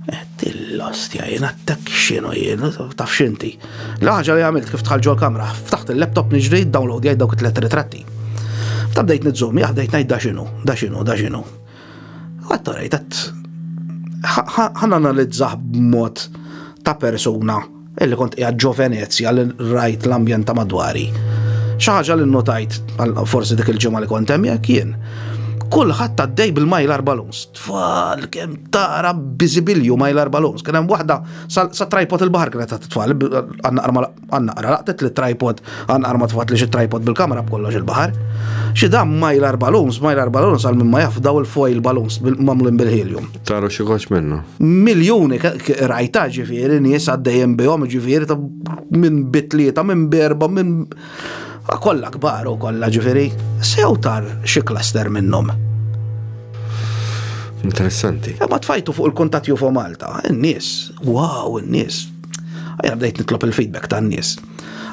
Qed l-ostja jien attakk x'inhu jien, taf x'inti. L-ħaġa li għamilt kif tħall ġol kamra, ftaħt il-laptop niġri downloadjajt dawk it-tliet ritratti. Ta' bdejt nizzum, jah bdejt ngħid da x'inhu, da x'inhu, da x'inhu. Għadd rajt, għadd ħananalizzah b'mod ta' persuna Illi kont qiegħed ġo Venezja li rajt l-ambjent ta' madwari. Xi ħaġa li nnotajt forsi dik il-ġimgħa li kont hemm jekk jien. Kulħadd għaddej bil-majlar balloons. Tfal kemm tara biżibilju majlar balloons. Kien hemm waħda sa tripod il-baħar kienet qed tfal għannaqra laqtet li tripod għannaqra ma tfat li xi tripod bil-kamera b'kollox il-baħar. Xi dam majlar balloons, majlar balloons għal minn ma jaf daw il-foil balloons mamlin bil-helium. Taru xieħoċ minnu. Miljoni rajta ġifiri, nies għaddejjem bihom ġifiri ta' minn bitlieta, minn berba, minn kollha kbar u kollha ġifiri. Sew tar xi klaster minnhom. Interessanti. E ma tfajtu fuq il-kuntat jufo Malta, n-nies, wow, n-nies. Għajja bdejt nitlob il-feedback ta' n-nies.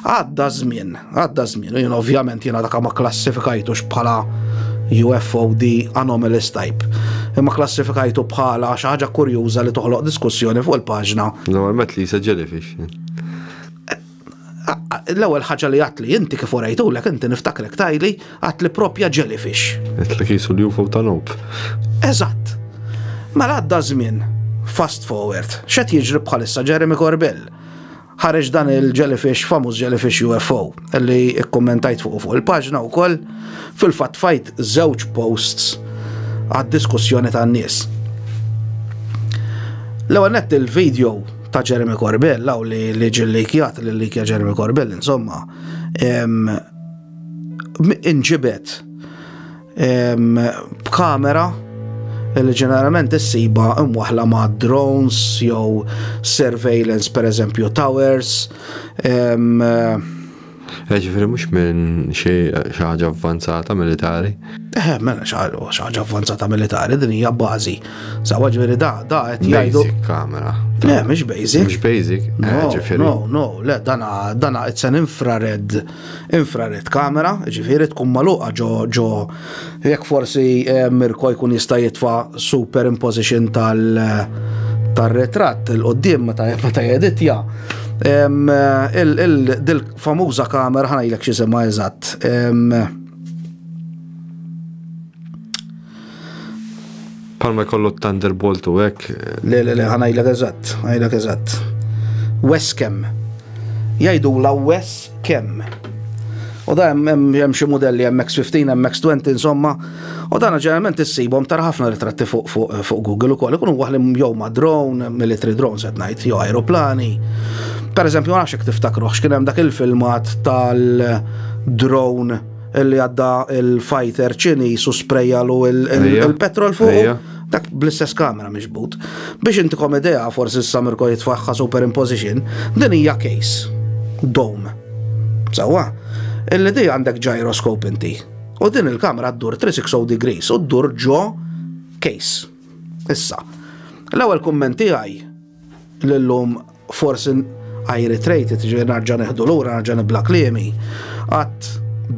Għadda żmien, għadda żmien, u jien ovvjament jiena dak ma klassifikajtux bħala UFOD anomalous type. Imma klassifikajtu bħala xi ħaġa kurjuża li toħloq diskussjoni fuq il-paġna. Normalment li jisa jellyfish. L-ewwel ħaġa li għatli inti kif orajtu lek inti niftakrek tajli għatli propja jellyfish. Għatli kisu li UFO ta' nob. Eżatt. Mela għadda żmien, fast forward, xed jiġri bħalissa Jeremy Corbell Ħareġ dan il-jellyfish, famuż jellyfish UFO, li kkummentajt fuq fuq il-paġna wkoll, fil-fatt fajt żewġ posts għad-diskussjoni tan-nies. L-ewwel nett il-video ta' Jeremy Corbell, law li li ġillikjat li likja Jeremy Corbell, insomma, inġibet b'kamera li ġeneralment issiba imwaħla ma' drones jew surveillance per eżempju towers. Eh, ġifiri mux minn xaħġa avvanzata militari? Eh, mela xaħġa avvanzata militari, din hija bazi. Sawa ġifiri da, da, għet jgħidu. Basic kamera. Eh, mux basic. Mux basic, eh, ġifiri. No, no, le, dana, dana, it's an infrared. infrared camera, ġifieri tkun magħluqa ġo ġo jekk forsi eh, Mirko jkun jista' jitfa' superimposition tal tar-ritratt il qoddim meta meta jeditja. Em, eh, il- il- Dil-famuża kamera ħanajlek xi semma eżatt. Em, Palma jkollu t-Thunderbolt u hekk. Le, le, le, ħanajlek eżatt, ħanajlek eżatt. Wes kemm. Jajdu la wes kemm. U da hemm xi modelli hemm X15, hemm X20 insomma. U dan ġeneralment issibhom tara ħafna ritratti fuq fuq fuq Google ukoll ikunu waħli jew ma' drone, military drones qed ngħid, jew aeroplani. Per eżempju, nafx jekk tiftakruħx kien hemm dak il-filmat tal-drone li għadda il-fighter ċiniż u sprejjalu il-petrol fuq. Dak bl-istess kamera miġbut. Biex intikom idea, forsi s-samirko jitfaħħa superimposition, din hija case. Dome. Sawa? Illi di għandek gyroskop inti. U din il-kamera ddur 360 degrees u ddur ġo case. Issa. L-ewwel kummenti għaj L-illum forsi I reiterate it, ġifieri narġa' neħdu lura, narġa' nibla kliemi, għadd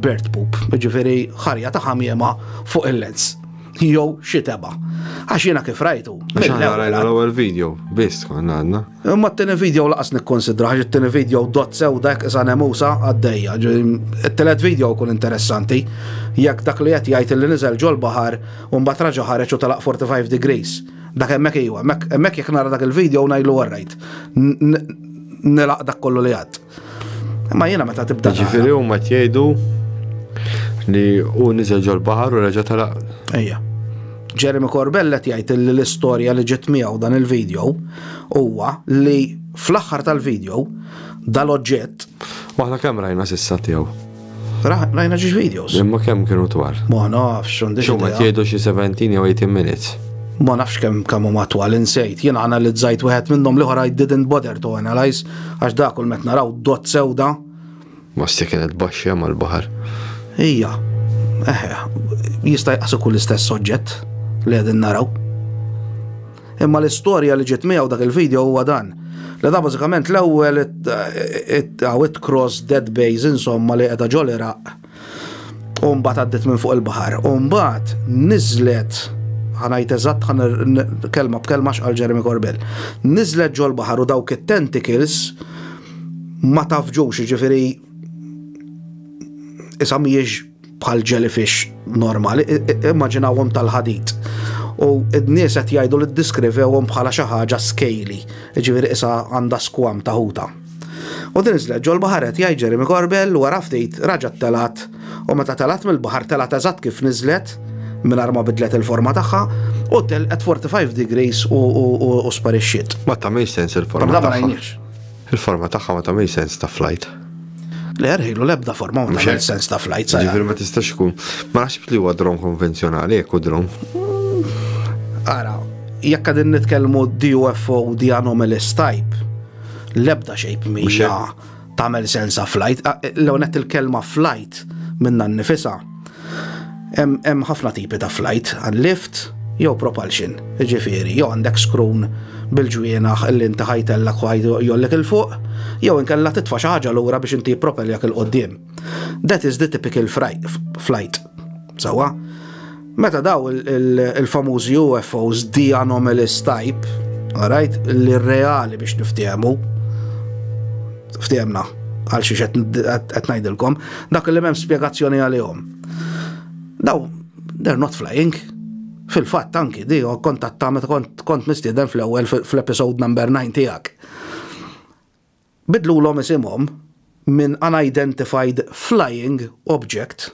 bird poop, ġifieri ħarja ta' ħamiema fuq il-lens. Jew xi teba. Għax jiena kif rajtu. L-ewwel video, biss konna għandna. Imma t-tieni video laqas nikkonsidra, għax it-tieni video dot sew dak isa nemusa għaddejja. It-telet video kun interessanti, jekk dak li qed jgħid li niżel ġol-baħar u mbagħad raġa' ħareġ u telaq 45 degrees. Dak hemmhekk iwa, hemmhekk jekk nara dak il-video u ngħidlu warrajt. Nilaq dak kollu li għad. Ma jiena meta tibda. Ġifieri huma tgħidu li u niżel ġol-baħar u reġa' talaq. Ejja. Jeremy Corbell qed jgħid li l-istorja li ġiet miegħu dan il-video huwa li fl-aħħar tal-video dal-oġġett. Waħna kemm rajna sissa tiegħu? Rajna ġiġ videos. Imma kemm kienu twal? Ma nafx, għandix. Xumma jgħidu xi 17 jew 18 minutes. Ma nafx kemm kemm huma twal insejt. Jien analizzajt wieħed minnhom li ħora I didn't bother to analyze għax dak kull met naraw dot sewda. Ma sti kienet baxxa mal-baħar. Ija, eħe, jista' jaqsu kull istess soġġett li qegħdin naraw. Imma l-istorja li ġiet miegħu dak il-video huwa dan. Li da bażikament l-ewwel it-cross dead base insomma li qiegħda ġol Iraq. U mbagħad għaddit minn fuq il-baħar. U mbagħad niżlet ħanajt eżatt ħan kelma b'kelma xqal Jeremy Corbell. Niżlet ġol baħar u dawk it-tentacles ma tafġux, ġifiri, isa miex bħal jellyfish normali, immaġinawhom tal-ħadid. U n-nies qed jgħidu li ddiskrivewhom bħala xi ħaġa scaly, jiġifieri isa għandha skwam ta' ħuta. U din iżlet ġol baħar qed jgħid Jeremy Corbell wara ftit raġgħet telgħat u meta telgħat mill-baħar telgħat eżatt kif niżlet mingħajr ma bidlet il-forma tagħha u telqet 45 degrees u sparixxiet. Ma tagħmilx sens il-forma. Ma Il-forma tagħha ma tagħmilx sens ta' flight. Le, rħilu l-ebda forma ma tagħmilx sens ta' flight. Ġifieri ma tistax ikun. Ma naħsibx li huwa dron konvenzjonali jekk hu dron. Ara, jekk qegħdin nitkellmu DUFO di anomalous type, l-ebda xejp mija tagħmel sens ta' flight. L-għonet il-kelma flight minna nifisa. Hemm ħafna tipi ta' flajt, għan lift jew propulsion, jiġifieri jew għandek skrun bil-ġwienaħ li inti ħa jtellgħek u ħa jgħollek 'il fuq, jew inkella titfa' xi ħaġa lura biex inti jippropelljak 'il quddiem. That is the typical flight. Sewwa? Meta daw il-famużi UFOs, the anomalous type, alright, li reali biex niftehmu, Ftehemna għal xiex qed ngħidilkom, dak li m'hemm spjegazzjoni għalihom. Daw, they're not flying. Fil-fatt anki di kontatta meta kont kont mistieden fl-ewwel fl-episode number 9 tiegħek. Bidlu l-om isimhom minn unidentified flying object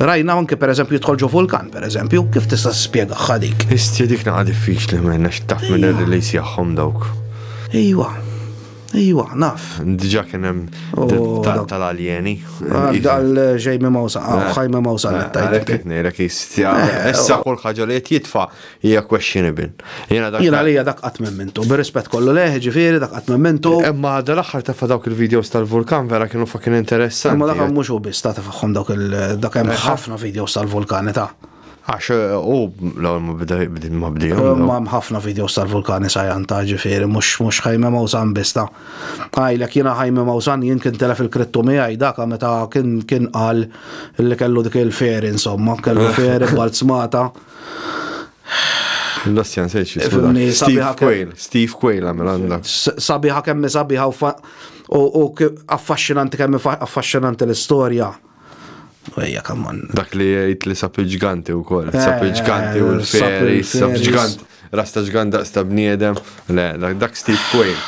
Rajna anke per eżempju jidħol ġo vulkan, per eżempju, kif tista' spjega ħadik? Isti dik naqa diffiċli minn għax taf minn ir-release jagħhom dawk. Ejwa, ejwa, naf. Diġà kien hemm oh, tal-aljeni. Ah, Dal-ġej minn mawsa, ħaj minn mawsa. Għalhekk qed ngħidlek jistja. Eh, issa oh. kull ħaġa li qed jitfa' hija questionable. Jiena dak. Jiena lija dak qatt memmintu, bir-rispett kollu leh, ġifieri dak qatt memmintu. Imma għadha l-aħħar tefa' dawk il-videos tal-vulkan vera kienu fucking interessanti. Imma dak mhux hu biss ta' tefagħhom dawk il dak hemm ħafna videos tal-vulkani ta'. Għax u l-ewwel ma bda ma bdejhom. Ma hemm ħafna videos tal-vulkani sajan ta' ġifieri mhux mhux ħajme mawsan biss ta'. Għajlek jiena ħajme mawsan jien kien telef il-krittu miegħi dak meta kien kien qal li kellu dik il-feri insomma, kellu feri b'alzmata. L-Ossian Sejx, Steve Quayle, Steve Quayle għamil għanda. Sabiħa kemmi sabiħa u affaxxinanti kemmi affaxxinanti l-istoria. Ejja, kamman. Dak li jgħid li sapi ġganti u kol, sapi eh, ġganti u l-feri, sapi ġganti, rasta ġgant daqs ta' bniedem, le, dak Steve Quayle.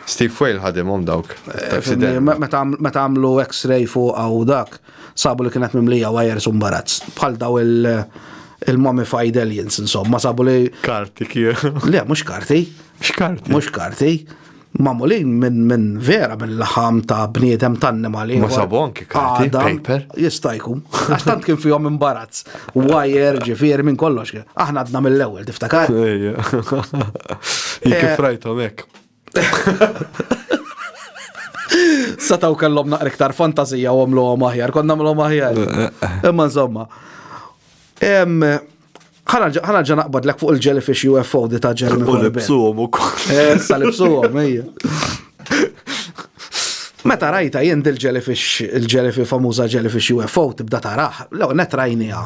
Steve Quayle ħadimhom dawk. Eh, meta għamlu x-ray fuq għaw dak. Sabu li kienet mimlija wires u mbarazz. Bħal daw il-mummified aliens, insomma, sabu li. Karti kien. Le, mux karti. X'karti? Mux karti. Mamulin minn min vera minn laħam ta' bniedem ta' annimali. Ma sabu anki karti, paper. Jistajku. Għax tant kien fihom imbarazz. Wire, ġifieri minn kollox. Aħna għadna mill-ewwel, tiftakar? Ejja. Kif eh, rajtom hekk. Sataw kellhom naqra iktar fantazija u għamluhom aħjar, konna għamluhom aħjar. Imma insomma. Ħana ġa naqbad l fuq il-jellyfish UFO di ta' ġelmi. U libsuhom ukoll. Eh, sa libsuhom, ejja. Meta rajta jien il-jellyfish, il-jellyfish famuża jellyfish UFO tibda taraħ, l-għonet rajnija.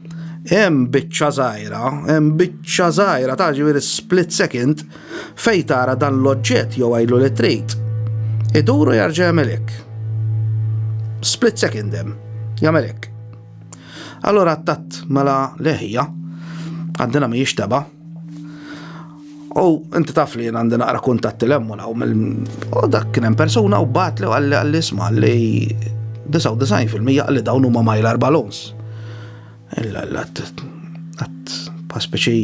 Hemm biċċa żgħira, hemm biċċa żgħira ta' ġifieri split second fejn tara dan l-oġġett jew għajlu li trid. Iduru jarġa' jagħmelek. Split second hemm, jagħmelek. Allora attat mela leħija, għandina mhijiex taba, U inti taf li jien għandi naqra kuntatti l-emmon għaw mill dak kien hemm persuna u bat li għalli għalli isma li 99% għalli dawn huma majlar balons. Illa l-għat ta' speċi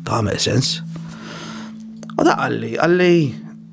ta' għamel sens. U da għalli għalli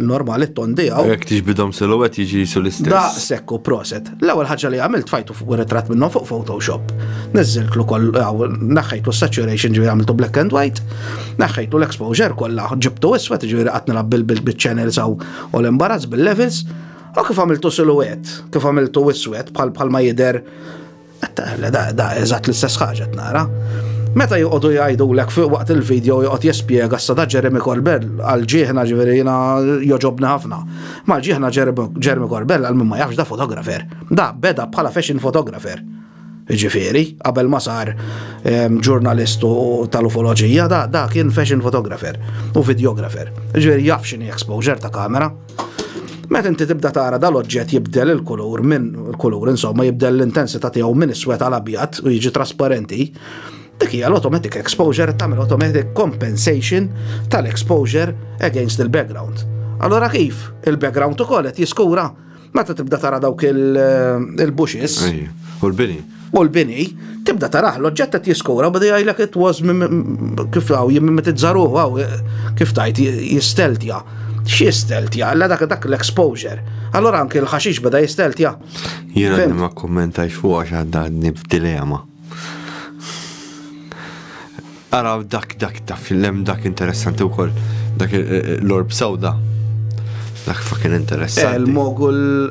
normali t-ton tiegħu. Jekk tiġbidhom silhouette jiġi jisu l-istess. Da sekku proset. L-ewwel ħaġa li għamilt fajtu fuq ritratt minnhom fuq Photoshop. Niżżiltlu koll naħħejtlu saturation ġifieri għamiltu black and white, naħħejtlu l-exposure kollha, ġibtu iswed ġifieri qatt nilgħab bil-channels u l-imbarazz bil-levels. U kif għamiltu silhouette, kif għamiltu iswed bħal ma jidher Għattaqle, da, da, eżatt l-istess ħaġa nara. Meta joqogħdu jgħidu lek fuq waqt il-video joqgħod jispjega s-sada Jeremy Corbell għal ġieħna ġifieri jiena joġobni ħafna. Mal ġieħna Jeremy Corbell għal min ma jafx da fotografer. Da beda bħala fashion fotografer. Ġifieri, qabel ma sar ehm, ġurnalistu tal-ufoloġija, da, da kien fashion fotografer u videografer. Ġifieri jaf xini exposure ta' kamera. Meta inti tibda tara dal-oġġett jibdel il-kulur minn il-kulur insomma jibdel l-intensità tiegħu minn iswed għal abjad u jiġi trasparenti, dik hija l-automatic exposure tagħmel automatic compensation tal-exposure against il-background. Allora kif il-background ukoll qed jiskura meta tibda tara dawk il-bushes. U l-bini. u l-bini, tibda taraħ l-oġġett qed jiskura bada jgħidlek it was kif hawn jimmimetizza ruħu hawn kif tajt jisteltja. X'jisteltja? Alla dak dak l-exposure. Allora anke l-ħaxix bada jisteltja. Jiena ma kummentaj fuq għax għandni f'dilema. Ara dak dak ta' fil-lem dak interessanti wkoll dak eh, eh, l-orb sawda. Dak fucking interessanti. Eh, Il-mogul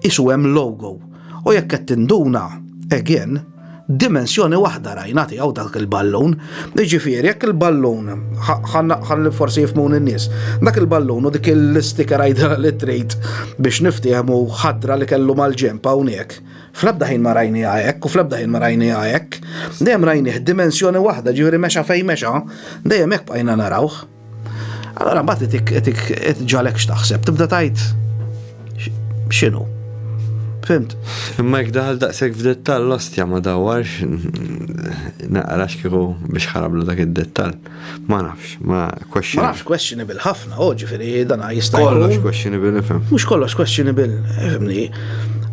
Qisu hemm logo u jekk qed tinduna, again, dimensjoni waħda rajna tiegħu dak il-ballun. Jiġifieri jekk il-ballun, ħalli forsi jifhmuni n-nies, dak il-ballun u dik l-isticker għidilha li trid biex niftiehmu ħadra li kellu mal-ġenb hawnhekk, fl-ebda ħin ma rajniha hekk u fl-ebda ħin ma rajniha hekk. Dejjem rajnih dimensjoni waħda, jiġifieri mexa fejn mexa, dejjem hekk bqajna narawh. Allora mbagħad qed ġalek x'taħseb, tibda tajt x'inhu. Fimt? Imma jekk daħal daqshekk f'dettall l-ostja ma dawarx naqrax kieku biex ħarablu dak id-dettall. Ma nafx, ma question. Ma nafx questionable ħafna, u oh, ġifieri dan jista' Kollox questionable nifhem. Mhux kollox questionable, fimni.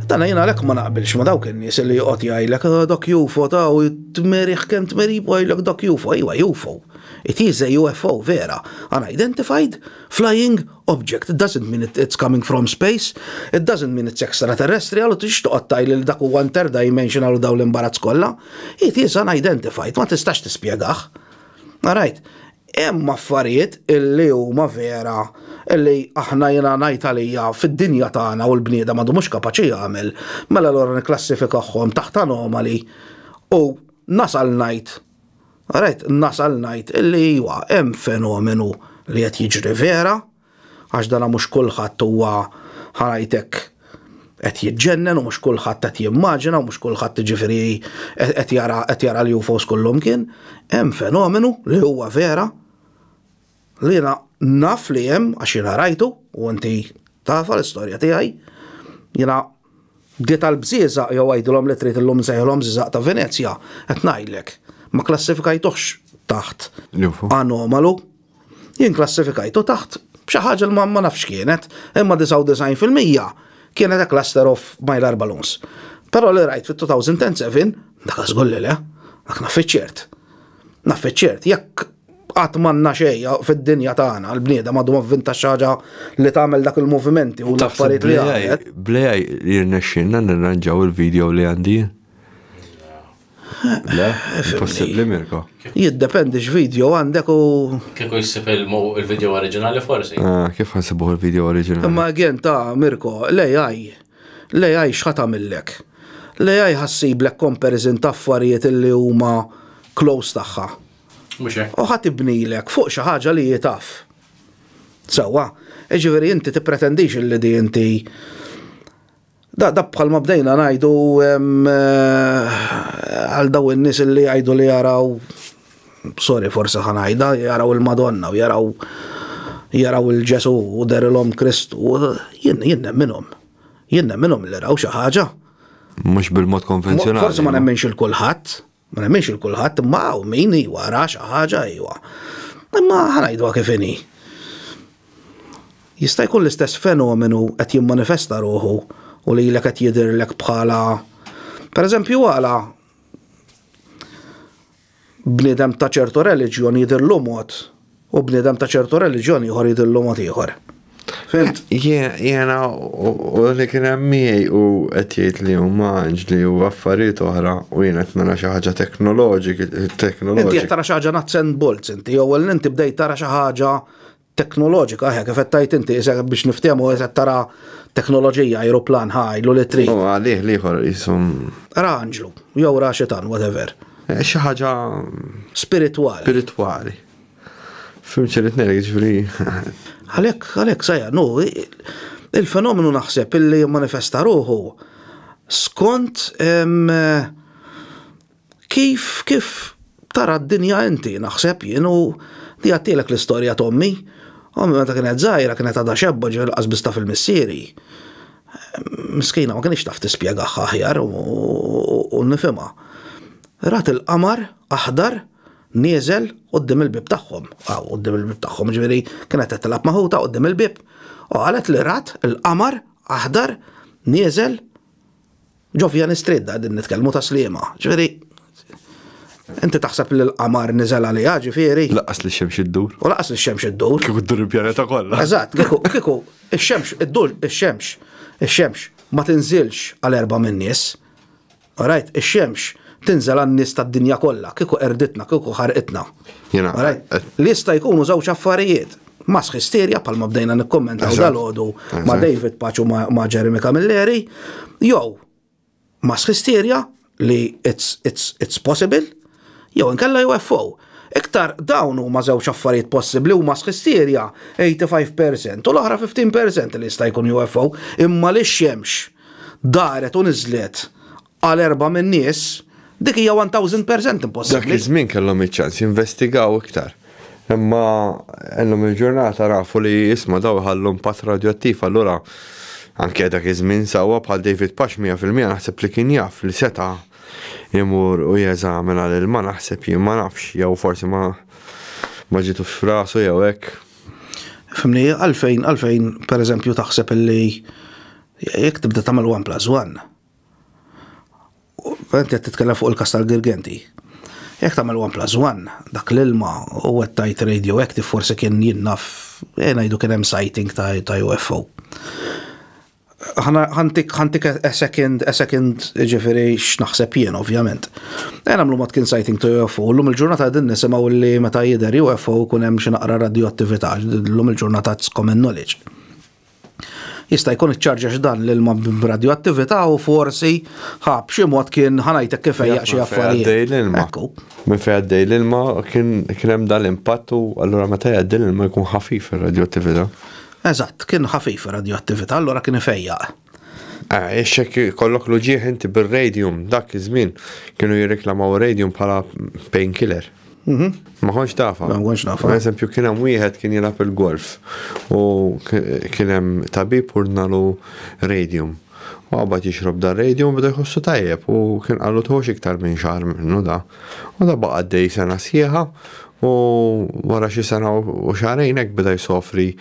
Dan jiena lek ma naqbilx ma dawk in-nies li joqgħod jgħidlek ah, dak jufo ta' u tmerih kemm tmerib u jgħidlek dak jufo, ejwa jufo. It is a UFO vera, unidentified, flying, object, it doesn't mean it's coming from space, it doesn't mean it's extraterrestrial u tridx toqgħod tgħidli li dak huwa interdimensional u dawn l-imbarazz kollha. It is unidentified, ma tistax tispjegah. Alright, hemm affarijiet illi huma vera illi aħna jiena ngħid għalija fid-dinja tagħna u l-bniedem għadu mhux kapaċi jagħmel, mela allura nikklassifikahom taħt anomali u nasal ngħid Rajt nasal ngħid illi iwa hemm fenomenu li qed jiġri vera, għax dana mhux kulħadd huwa ħarajtek qed jiġġennen u mhux kulħadd qed jimmaġina u mhux kulħadd jiġifieri qed jara qed jara l-UFOs kullumkien, hemm fenomenu li huwa vera. Li jiena naf li hemm għax jiena rajtu u inti tafha l-istorja tiegħi. Jiena bdiet għal bżieżaq jew għidilhom li trid illum nsejħilhom żiżaq ta' Venezja, qed ngħidlek, ma klassifikajtuhx taħt anomalu. Jien klassifikajtu taħt xi ħaġa li ma nafx x'kienet, imma 99 fil-mija kienet a cluster of mylar balloons. Però li rajt fit-2007, dak żgur li le, dak naf iċ-ċert. Naf iċ-ċert, jekk qatt m'għandna xejn fid-dinja tagħna l-bniedem għadu avvinta xi ħaġa li tagħmel dak il-movimenti u l-affarijiet li għamlet. Blejaj li rnexxinna nirranġaw il-video li għandi. Le, possibbli Mirko. Jiddependi x'video għandek u. Kieku jissib il-video oriġinali forsi. Ah, kif ħansibuh il-video oriġinali? Imma għen ta' Mirko, l-AI, l-AI xħat għamillek. L-AI ħassiblek comparison ta' affarijiet li huma close tagħha. Mhux hekk. U ħa tibnilek fuq xi ħaġa li hi taf. Sewwa, jiġifieri inti tippretendix li di inti Da, da bħalma bdejna ngħidu eh, għal daw in-nies li jgħidu li jaraw sorry forsi ħanajda jaraw il-Madonna u jaraw jaraw il-Ġesu u derilhom Kristu jien jien minnhom. Jien minnhom li raw xi ħaġa. Mhux bil-mod konvenzjonali. Forsi ma nemmenx il-kulħadd. Ma nemminx il kulħadd imma hawn min jwara xi ħaġa ejwa. Imma ħanajdwa kif inhi. Jista' jkun l-istess fenomenu qed jimmanifesta ruħu u li l qed jidirlek bħala per eżempju għala bniedem ta' ċertu reliġjon jidirlu mod U bniedem ta' ċertu reliġjon ieħor jidillu mod ieħor. Fimt? Jena u li kien hemm miegħi u qed jgħid li huma anġli u affarijiet oħra u jien qed nara xi ħaġa teknoloġik, teknoloġik. Inti qed tara xi ħaġa nuts and bolts inti, jew inti bdejt tara xi ħaġa teknoloġika, ħek, kif tajt inti, biex niftehmu qed tara teknoloġija, aeroplan, ħajlu li tri. U għalih liħor jisum. Ra anġlu, jew ra xitan, whatever. Eh, xi ħaġa. Spiritwali. Spiritwali. Fim ċerit nera, ġifri. Għalek, għalek, sajja, nu, il-fenomenu naħseb illi manifesta ruħu skont kif, kif tara d-dinja inti, naħseb jien u di għattilek l-istoria tommi. Ommi meta kienet zaħira, kienet għada xebba ġil qasbista fil-missieri. Miskina ma kienx taf tispjega ħahjar u nifima. Rat il-qamar, aħdar, Nieżel quddiem il-bieb tagħhom, hawn quddiem il-bieb tagħhom, ġifieri kienet qed tilgħab maħuta quddiem il-bieb, u qalet li rat il-qamar aħdar nieżel ġo Vian Street da din nitkellmu ta' sliema. Ġifieri Inti taħseb li l-qamar niżel għaliha ġifieri. Laqas li xemx iddur. U laqas li xemx iddur. Kieku ddur il-pjaneta kollha. Eżatt, kieku kieku ix-xemx iddur ix-xemx ix-xemx ma tinżilx għal erba' min-nies. Alright, ix-xemx tinżel għan-nies tad-dinja kollha, kieku qerditna, kieku ħarqitna. Alright, li jista' jkunu żewġ affarijiet, mass hysteria bħalma bdejna nikkummentaw dal-għodu ma' David Paċ u ma' Jeremy Camilleri, jew mass hysteria li it's possible, Jew inkella UFO. Iktar dawn huma żewġ affarijiet possibbli huma sħistirja 85 per cent u l-oħra 15 per cent li jista' jkun UFO imma li x-xemx daret u niżlet għal erbgħa min-nies dik hija 1000 per cent impossibbli. Dak iż-żmien kellhom iċ-ċans jinvestigaw iktar. Imma illum il-ġurnata nafu li isma' dawn iħallu impatt radjoattiv allura anke dak iż-żmien sewwa bħal David Pash 100% naħseb li kien jaf li seta' imur u jeżamina lil ma naħseb jien ma nafx jew forsi ma ma ġitux f'rasu jew hekk. Fimni, għalfejn, għalfejn, per eżempju, taħseb illi jekk tibda tagħmel one plus one. Għent qed titkellem fuq il-kas tal-Girgenti. Jekk tagħmel one plus one, dak l-ilma u qed tajt radioactive forsi kien jinnaf, eh, ngħidu kien hemm sighting ta' UFO. ħantik ħantik a second a second ġifieri x'naħseb jien ovvjament. Ejn nagħmlu mod kien sighting to UFO, llum il-ġurnata din nisimgħu li meta jidher UFO kun hemm xi naqra radioattività, llum il-ġurnata it's common knowledge. Jista' jkun iċċarġax dan l-ilma b'radioattività u forsi ħa b'xi mod kien ħanajtek kif ejjaq xi affarijiet. Minn fejn għaddej l-ilma kien hemm dan l-impatt u allura meta jgħaddi l-ilma jkun ħafif ir-radioattività. Eżatt, kien ħafif ir-radjuattività, allura kien ifejjaq. Eh, ix hekk ikollok l-uġieħ inti bir-radium, dak iż-żmien kienu jirreklamaw ir-radium bħala painkiller. Mhm. Ma konx tafa. Ma konx nafa. Per eżempju, kien hemm wieħed kien jilgħab il-golf u kien hemm tabib urdnalu radium. U għabad jixrob dar radium bda jħossu tajjeb u kien qallu tħox iktar minn xahar minnu da. U da baqa' għaddej sena sħiħa u wara xi sena u xahrejn hekk beda jsofri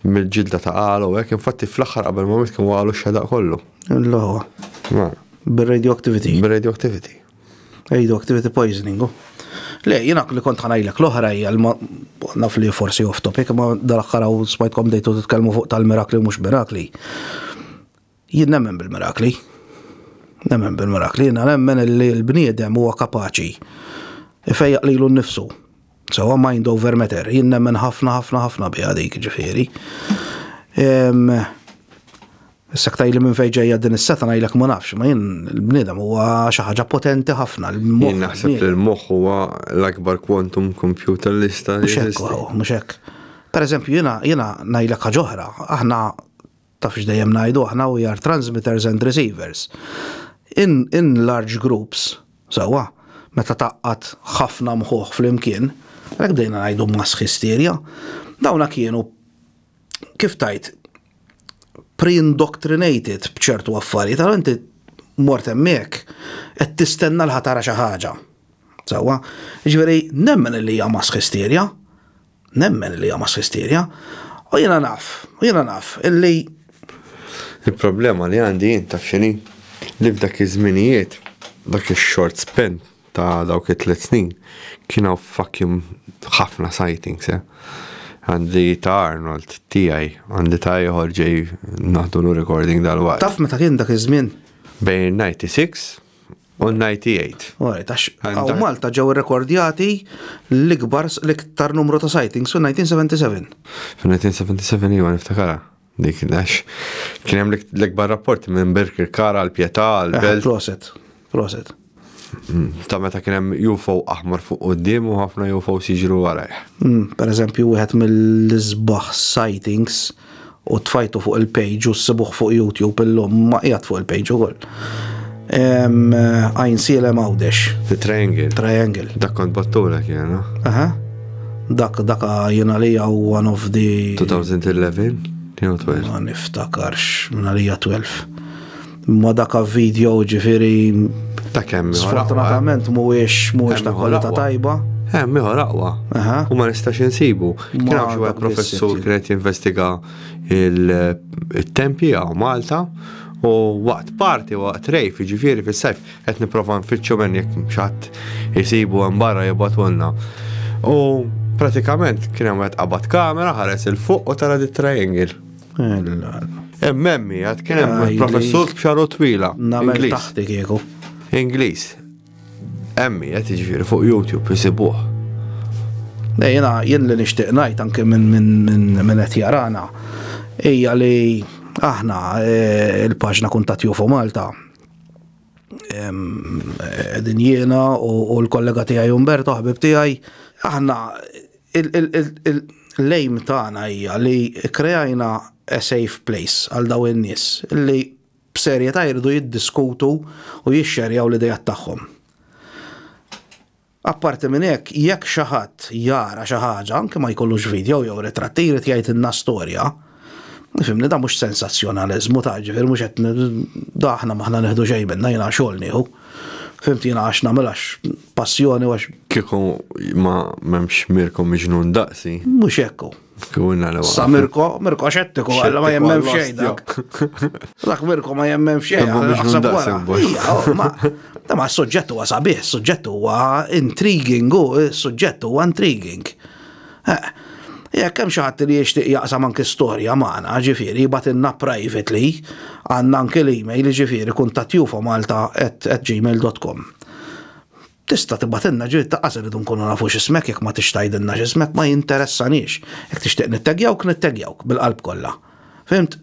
mill-ġilda ta' għala u hekk, infatti fl-aħħar qabel ma miet kien waqgħalu x-xedaq kollu. L-ħwa. Mela. Bir-radioactivity. Bir-radioactivity. Radioactivity poisoning, hu. Le, jiena li kont ħanajlek l-oħra hija naf li forsi off topic, ma dal-aħħar smajtkom dejtu titkellmu fuq tal-mirakli u mhux mirakli. Jien nemmen bil-mirakli. Nemmen bil-mirakli, jiena nemmen li l-bniedem huwa kapaċi ifejjaq lilu nnifsu. Sewa mind over matter, jien nemmen ħafna ħafna ħafna biha dik ġifieri. Issa ktaj li minn fejn ġejja din is-seta ngħidlek ma nafx, ma jien l-bniedem huwa xi ħaġa potenti ħafna. Jien naħseb li l-moħħ huwa l-akbar quantum computer li jista' jeżisti. Mhux hekk. Pereżempju jiena ngħidlek ħaġa oħra, aħna Taf x'dejjem ngħidu aħna we are transmitters and receivers. In, in large groups, sewwa, meta taqqat ħafna mħuħ flimkien, hekk bdejna ngħidu mass hysteria, dawna kienu kif tajt pre-indoctrinated b'ċertu affarijiet, għal inti mort hemmhekk qed tistenna l-ħatara xi ħaġa. Sewwa, ġifieri nemmen li hija mass hysteria, Nemmen li hija mass hysteria. U jiena naf, u jiena naf illi. Il-problema li għandi jien taf x'inhi? Li f'dak iż-żminijiet, dak ix-short span ta' dawk it-tliet snin, kien hawn fucking ħafna sightings, eh. Għandi ta' Arnold, tiegħi, għandi ta' ieħor ġej naħdulu recording dalwaqt. Taf meta kien dak iż-żmien? Bejn 96 U 98. Alright, għax għaw Malta ġew rekordjati l-ikbar l-iktar numru ta' sightings u 1977. Fi 1977 jiva niftakara. Dik għax kien hemm l-ikbar rapporti minn Birkirkara għal Pietà għal eh, Belt. Proset, proset. Mm, ta' meta kien hemm UFO aħmar fuq quddiem u ħafna UFO siġru warajh. Mm, per eżempju, wieħed mill-isbaħ sightings u tfajtu fuq il-page u s-sibuħ fuq YouTube illum ma qiegħed fuq il-page ukoll. Għajn silem għawdex. The triangle. Triangle. Dak kont battuna kiena. Aha. Dak dak jena li għaw one of the. 2011? Jew 12? Ma niftakarx, minna li 12. Ma dak video ġifiri. Ta' kemm Sfortunatament mhuwiex mhuwiex ta' kwalità tajba. Hemm ieħor aqwa. U ma nistax insibu. Kien hawn xi wieħed professur kien qed jinvestiga il-tempji għaw Malta u waqt parti waqt rejf ġifiri fis-sajf qed nipprova nfittxu minn jekk xatt isibu hemm barra jibgħatulna. U pratikament kien hemm wieħed qabad kamera ħares il fuq u tara dit triangle. Emmemmi, għad kien hemm ah, professur b'xaru twila. Namel taħti kieku. Ingliż. Emmi, għed iġviri fuq YouTube jisibuħ. Ne, jena, jien li nishtiq najt anke minn min, min, min qed jarana, hija li aħna eh, il-paġna kuntat jufu Malta din jiena u l-kollega tiegħi Umberto ħbib tiegħi aħna l-lejm tagħna hija li kreajna a safe place għal daw in-nies li b'serjetà jridu jiddiskutu u jixxerjaw l-ideat tagħhom. Apparti minn hekk, jekk xi ħadd jara xi ħaġa, anke ma jkollux video jew ritratti, jrid jgħidilna storja, Fimni, da mhux sensazzjonaliżmu ta' ġifieri mhux qed da aħna m'aħna nieħdu xejn minna jiena xogħol nieħu. Fimt jiena għax nagħmel għax passjoni għax. Kieku ma m'hemmx Mirko miġnun daqsi. Mhux hekk hu. Sa Mirko, Mirko xettiku għalla ma jemmen f'xejn dak. Dak Mirko ma jemmen f'xejn. Ma ta' ma s-suġġett huwa sabiħ, s-suġġett huwa intriguing, u s-suġġett huwa intriguing. Eh, jekk hemm xi ħadd li jixtieq jaqsam anki storja magħna, ġifieri jibatilna privately, għandna anki l-email ġifieri kuntattjufomalta@gmail.com. Tista' tibatilna ġifieri ta' qasir idu nkunu nafu x'ismek jekk ma tix tgħidilna x'ismek ma jinteressanix. Jekk tixtieq nittegjawk nittegjawk bil-qalb kollha. Fimt?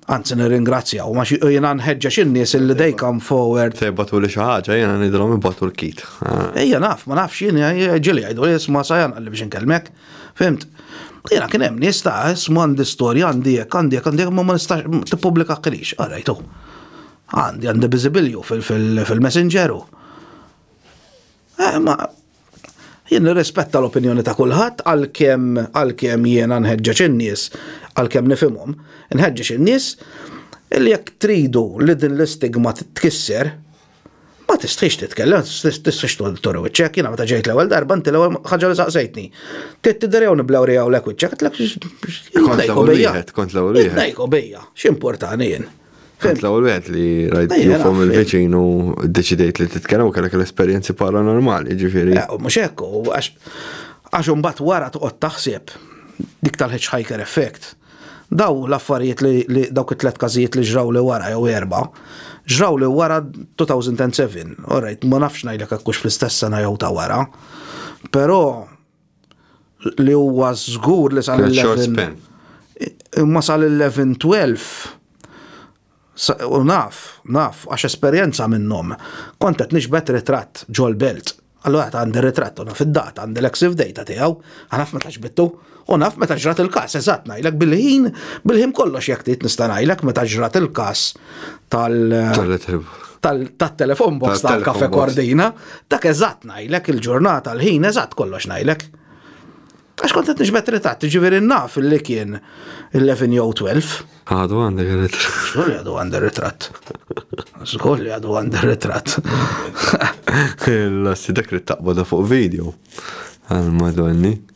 Anzi nirringrazzja u ma xi jiena nħeġġeġ in-nies illi they come forward. Se jibatu li xi ħaġa jiena nidhom ibatu l-kit. Ejja naf, ma nafx jiena ġili jgħidu isma' sa janqalli biex inkellmek. Fimt? Jiena kien hemm nies ta' isma' għandi storja għandi hekk għandi hekk għandi ma ma nistax tippubblika ħilix, qarajtu. Għandi għandi biżibilju fil-messengeru. Eh, ma jien nirrispetta l-opinjoni ta' kulħadd għalkemm għalkemm jiena nħeġġeġ in-nies għalkemm nifhimhom, nħeġġeġ in-nies li jekk tridu li din l-istigma tkisser, ma tistħix titkellem, tistħix turu iċċek, jina meta ġejt l-ewwel darba, inti l-ewwel ħaġa li saqsejtni. Tidderew niblew rejaw l-ek iċċek, għatlek. Kont l-ewwel wieħed, kont l-ewwel wieħed. Nejko bija, x'importani jien. Kent l-ewwel wieħed li rajt jufhom il-viċin u ddeċidejt li titkellem u kellek l-esperjenzi paranormali, ġifieri. Eh, mhux hekk, għax għax imbagħad wara toqgħod taħseb dik tal-hitchhiker effect. Daw l-affarijiet li dawk it-tlet każijiet li ġraw li wara jew erba' ġraw li wara 2007. Alright, ma nafx ngħidlek hekk fl-istess sena jew ta' wara. Però li huwa żgur li sal il-11. Imma sal il-11 12 u naf, naf, għax esperjenza minnhom. Kont qed nixbet ritratt ġol belt. Allura ta' għandi ritratt u naf id-data, għandi l-exif data tiegħu, naf meta ġbittu, u naf meta ġrat il-każ, eżatt ngħidlek bil-ħin, bil-ħin kollox jekk trid nista' ngħidlek meta ġrat il-każ. tal tal-telefon box tal-kafe kordina, dak eżatt najlek il-ġurnata l-ħin eżatt kollox najlek. Għax kontet nġbet ritat, ġiviri naf li kien 11 jew 12. Għadu għandek ritratt. Zgur li għadu għandek ritratt. Zgur li għadu għandek ritratt. L-assi dak li taqbada fuq video. Għal-madonni.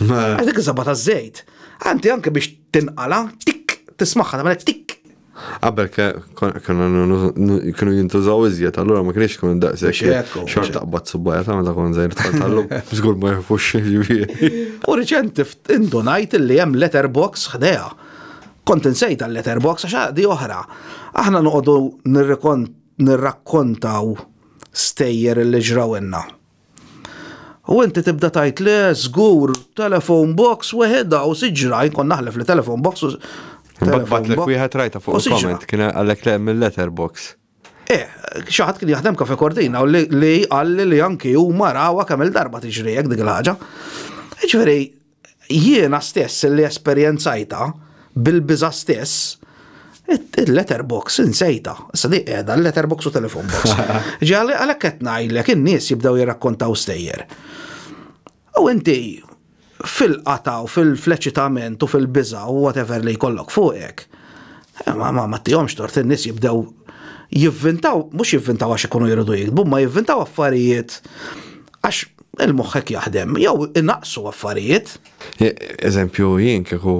Għax dik iż-żabba taż-żejt. Anti anke biex tinqala, tik, tismaħħa tagħmel tik. Qabel kienu jintużaw iżjed, allura ma kienx kun daqshekk xort taqbad subbaja ta' meta kon żejr tal-tallu, żgur ma jafux ġifieri. U riċenti indunajt li hemm letterbox ħdejha. Kont insejt għal letterbox għax di oħra. Aħna noqogħdu nirrakkontaw stejjer li ġrawilna. U inti tibda tajt le, żgur, telefon box weħedha u siġra, jkun naħlef li telefon box u. Batlek wieħed rajta fuq il-comment kien għalek le mill-letter box. Eh, xaħat kien jaħdem kafe kordina u li għalli li anki u marawa kemm il-darba tiġri jek dik il-ħagġa. Ġveri, jiena stess li esperjenzajta bil-biża stess, il-letterbox insejta. Issa di qiegħda l-letterbox u telefon box. Ġali għalhekk qed ngħidlek in-nies jibdew jirrakkontaw stejjer. U inti fil-qata u fil-fleċitament u fil-biża u whatever li jkollok fuqek, eh, ma ma tihomx tort in-nies jibdew jivvintaw, mhux jivvintaw għax ikunu jridu jikdbu, ma jivvintaw affarijiet Għax il-moħħek jaħdem, jew inaqsu affarijiet. Eżempju, jien kieku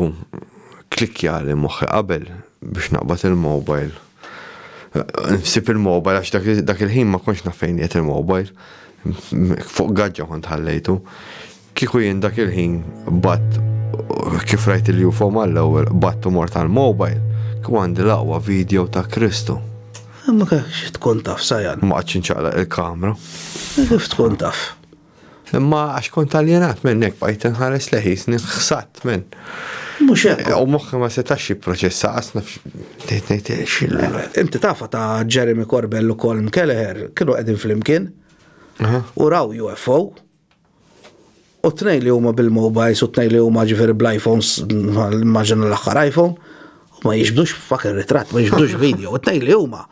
klikja li moħħi qabel biex naqbad il-mobile. Nsib il-mobile għax dak il-ħin ma konx nafejn jiet il-mobile. Fuq gaġġa kont ħallejtu. Kieku jien dak il-ħin bat kif rajt il-UFO mal-ewwel battu mort għal mobile kieku għandi laqwa video ta' Kristu. Ma kekx tkun taf, Sajan. Ma għadx inċaqlaq il-kamra. Kif tkun taf? Imma għax kont aljenat minnek bajt nħares leħis, nħsat minn. Mux hekk. U moħħi ma setax jipproċessa qasna Inti tafa ta' Jeremy Corbell u Colm Kelleher kienu qegħdin flimkien. U raw UFO. U t-tnejn li huma bil-mobiles u t-tnejn li huma ġifieri bl-iPhones, immaġina l-aħħar iPhone, u ma jiġbdux fucking ritratt, ma jiġbdux video, u t-tnejn li huma.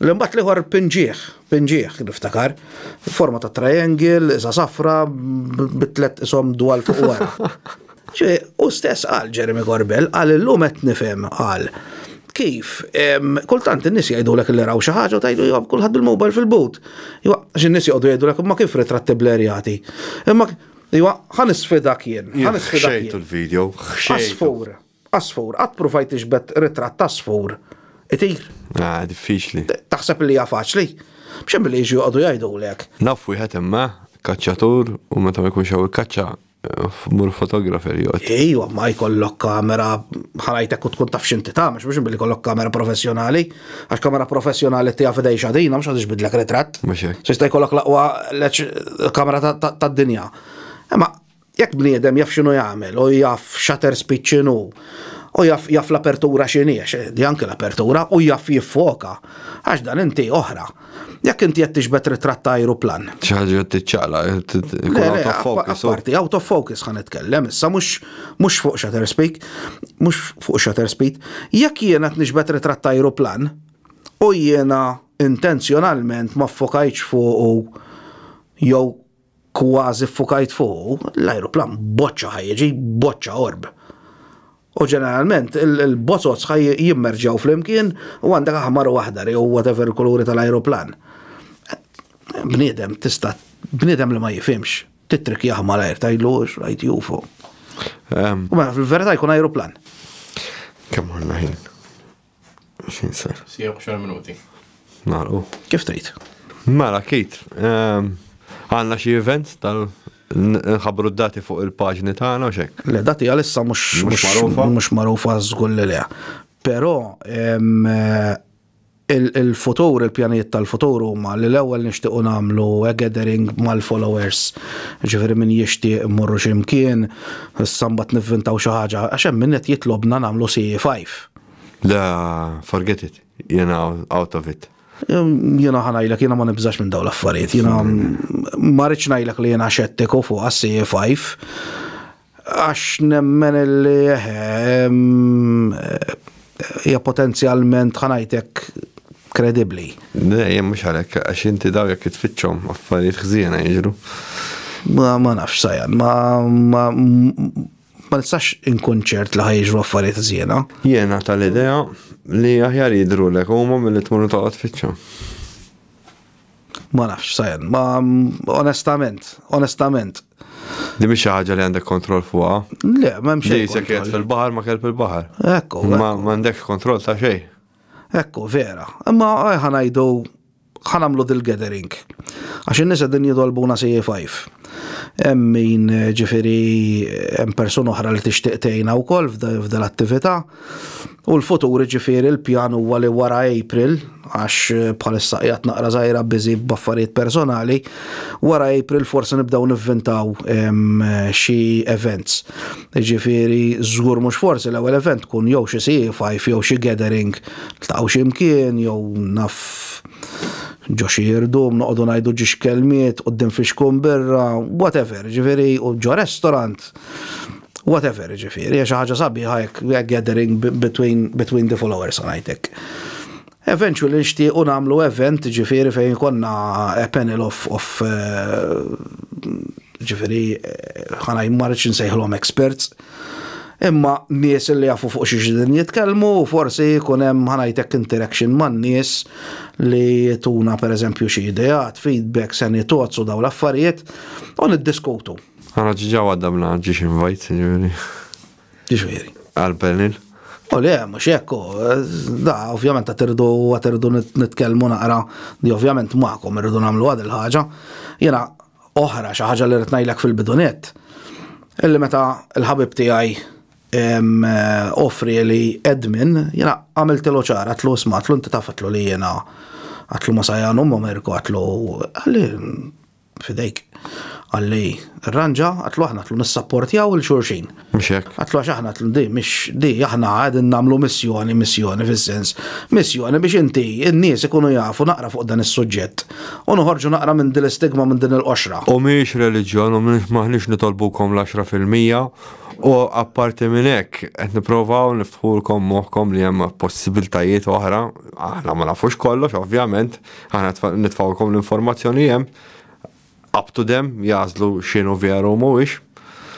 Li mbagħad l-ieħor pinġieħ, pinġieħ niftakar, forma ta' triangle, iżgħa safra, bit-tliet ishom dwal fuq wara. Ġie hu stess qal, Jeremy Corbell, qal illum qed nifhem, qal, kif kultant in-nies jgħidulek li raw xi ħaġa u tgħidu jew kulħadd bil-mobile fil-but. Iwa, għax in-nies joqogħdu jgħidulek imma kif ritratti blerjati. Imma iwa, ħan isfidak jien, ħan isfidak jien. Xejtu l-video, xejtu. Asfur, asfur, qatt pruvajt tiġbed ritratt asfur. Itir. Ah, diffiċli. Taħseb li hija faċli? B'xejn billi jiġu joqogħdu jgħidulek. Naf wieħed imma kaċċatur u meta ma jkunx hawn il-kaċċa Mur fotografer jgħod. Ejwa, ma jkollok kamera ħarajtek u tkun taf xinti ta' mux biex billi kollok kamera professjonali. Għax kamera professjonali tija fidej xadina, mux għadix bidlek retrat. Sista jkollok laqwa kamera ta' dinja. Ma jek bniedem jaf xinu jgħamil, u jaf shutter speed xinu, u jaf jaf l-apertura xiniex, di anki l-apertura, u jaf jiffoka. Għax dan inti oħra. Jekk inti qed tixbet ritratt ta' ajruplan. ċaġa tiċċaqla, out of focus. Parti, out of focus ħan itkellem, issa mhux fuq shutter speed, mhux fuq shutter speed. Jekk jiena qed nixbet ritratt ta' ajruplan u jiena intenzjonalment ma ffokajtx fuq jew kważi ffukajt fuqu, l-ajruplan boċċa ħa jiġi, boċċa orb. U ġeneralment il-bozozz ħa jimmerġaw flimkien u għandek aħmar u aħdar jew whatever kuluri tal-ajruplan. Bniedem tista' bniedem li ma jifimx, titrik jaħma l-ajr tajlu rajt jufu. U mela fil-verità jkun ajruplan. Kemm għandna ħin? Xin sar? Sija xar minuti. Naru. Kif tgħid? Mela, kit. Ehm, għanna xi events tal nħabru d-dati fuq il-paġni tagħna u xek. Le dati għalissa mhux magħrufa. Mhux magħrufa żgur li le. Però ehm, il-futur, il-pjanijiet tal-futur huma li l-ewwel nixtiequ nagħmlu gathering mal-followers. Ġifieri min jixtieq morru x'imkien, sambat nivvintaw xi ħaġa, għax hemm min qed jitlobna nagħmlu CE5. Le, forget it. Jena out of it. Jena ħanajlek, jena ma nibżax minn daw l-affarijiet. Jena marriċ najlek li jena xettiku fuq għassi 5 Għax nemmen li hija potenzjalment ħanajtek kredibli. Ne, jem mux għalek, għax inti daw jek tfittxom, affarijiet xzina jġru. Ma nafx sajan, ma Ma nistax inkun ċert li ħajġru affarijiet żiena. Jiena tal-idea li aħjar jidru l huma mill-li tmur toqgħod fiċċa. Ma nafx, sajan, ma onestament, onestament. Di biex ħaġa li għandek kontroll fuqa. Le, ma mxie. Di sekret fil-bahar ma kelb il-bahar. Ekku. Ma għandek kontroll ta' xej. Ekku, vera. Ma ħanajdu ħa nagħmlu dil-gathering. Għax in-nies qegħdin jitolbuna CA5. Hemm min ġifieri hemm persuna oħra li tixtieq tgħinha wkoll f'dil attività. U l-futur ġifieri l-pjan huwa li wara April, għax bħalissa qiegħed naqra żgħira biżi b'affarijiet personali, wara April forsi nibdew nivvintaw xi events. Jiġifieri żgur mhux forsi l-ewwel event tkun jew xi CA5 jew xi gathering tlaqgħu xi mkien jew naf ġo xi irdum noqogħdu ngħidu ġiex kelmiet quddiem fixkun birra, whatever, ġifieri u ġo restaurant whatever ġifieri, xi ħaġa sabiħa hekk gathering between the followers ħanajtek. Eventually nixtiequ nagħmlu event ġifieri fejn ikollna a panel of, of ġifieri ħana jimmarriċ nsejħlhom experts. Imma nies li jafu fuq xi din jitkellmu u forsi jkun hemm ħanajtek interaction man-nies li jituna pereżempju xi ideat, feedback, seni thoughts u dawn l-affarijiet u niddiskutu. Ara ġiġa waddabna ġiex invite ġifieri. Jiġifieri. Għal Berlin? U le, mhux hekk hu. Da, ovvjament qed irridu qed irridu nitkellmu naqra li ovvjament magħkom irridu nagħmlu għad il-ħaġa. Jiena oħra xi ħaġa li rrid ngħidlek fil-bidunet. Illi meta l-ħabib tiegħi offri li admin, jiena għamiltilu ċar, għatlu isma' għatlu inti taf għatlu li jiena għatlu ma sajanu ma merku għatlu għalli fidejk. Għalli, ranġa, għatlu aħna għatlu nissapportjaw il-xurxin. Mxek. Għatlu għax aħna għatlu di, mx di, aħna għadin namlu missjoni, missjoni fil-sens. Missjoni biex inti, n-nies ikunu jafu naqra fuq dan is-suġġett. U nħorġu naqra minn din l-istigma minn din il-qoxra. U miex religjon, u miex maħnix nitolbukom l-10% u apparti minn hekk qed nipprovaw niftħulkom moħħkom li hemm possibiltajiet oħra, aħna ma nafux kollox ovvjament, Aħna nitfawlkom l-informazzjoni li hemm up to them jażlu x'inhu veru u mhuwiex.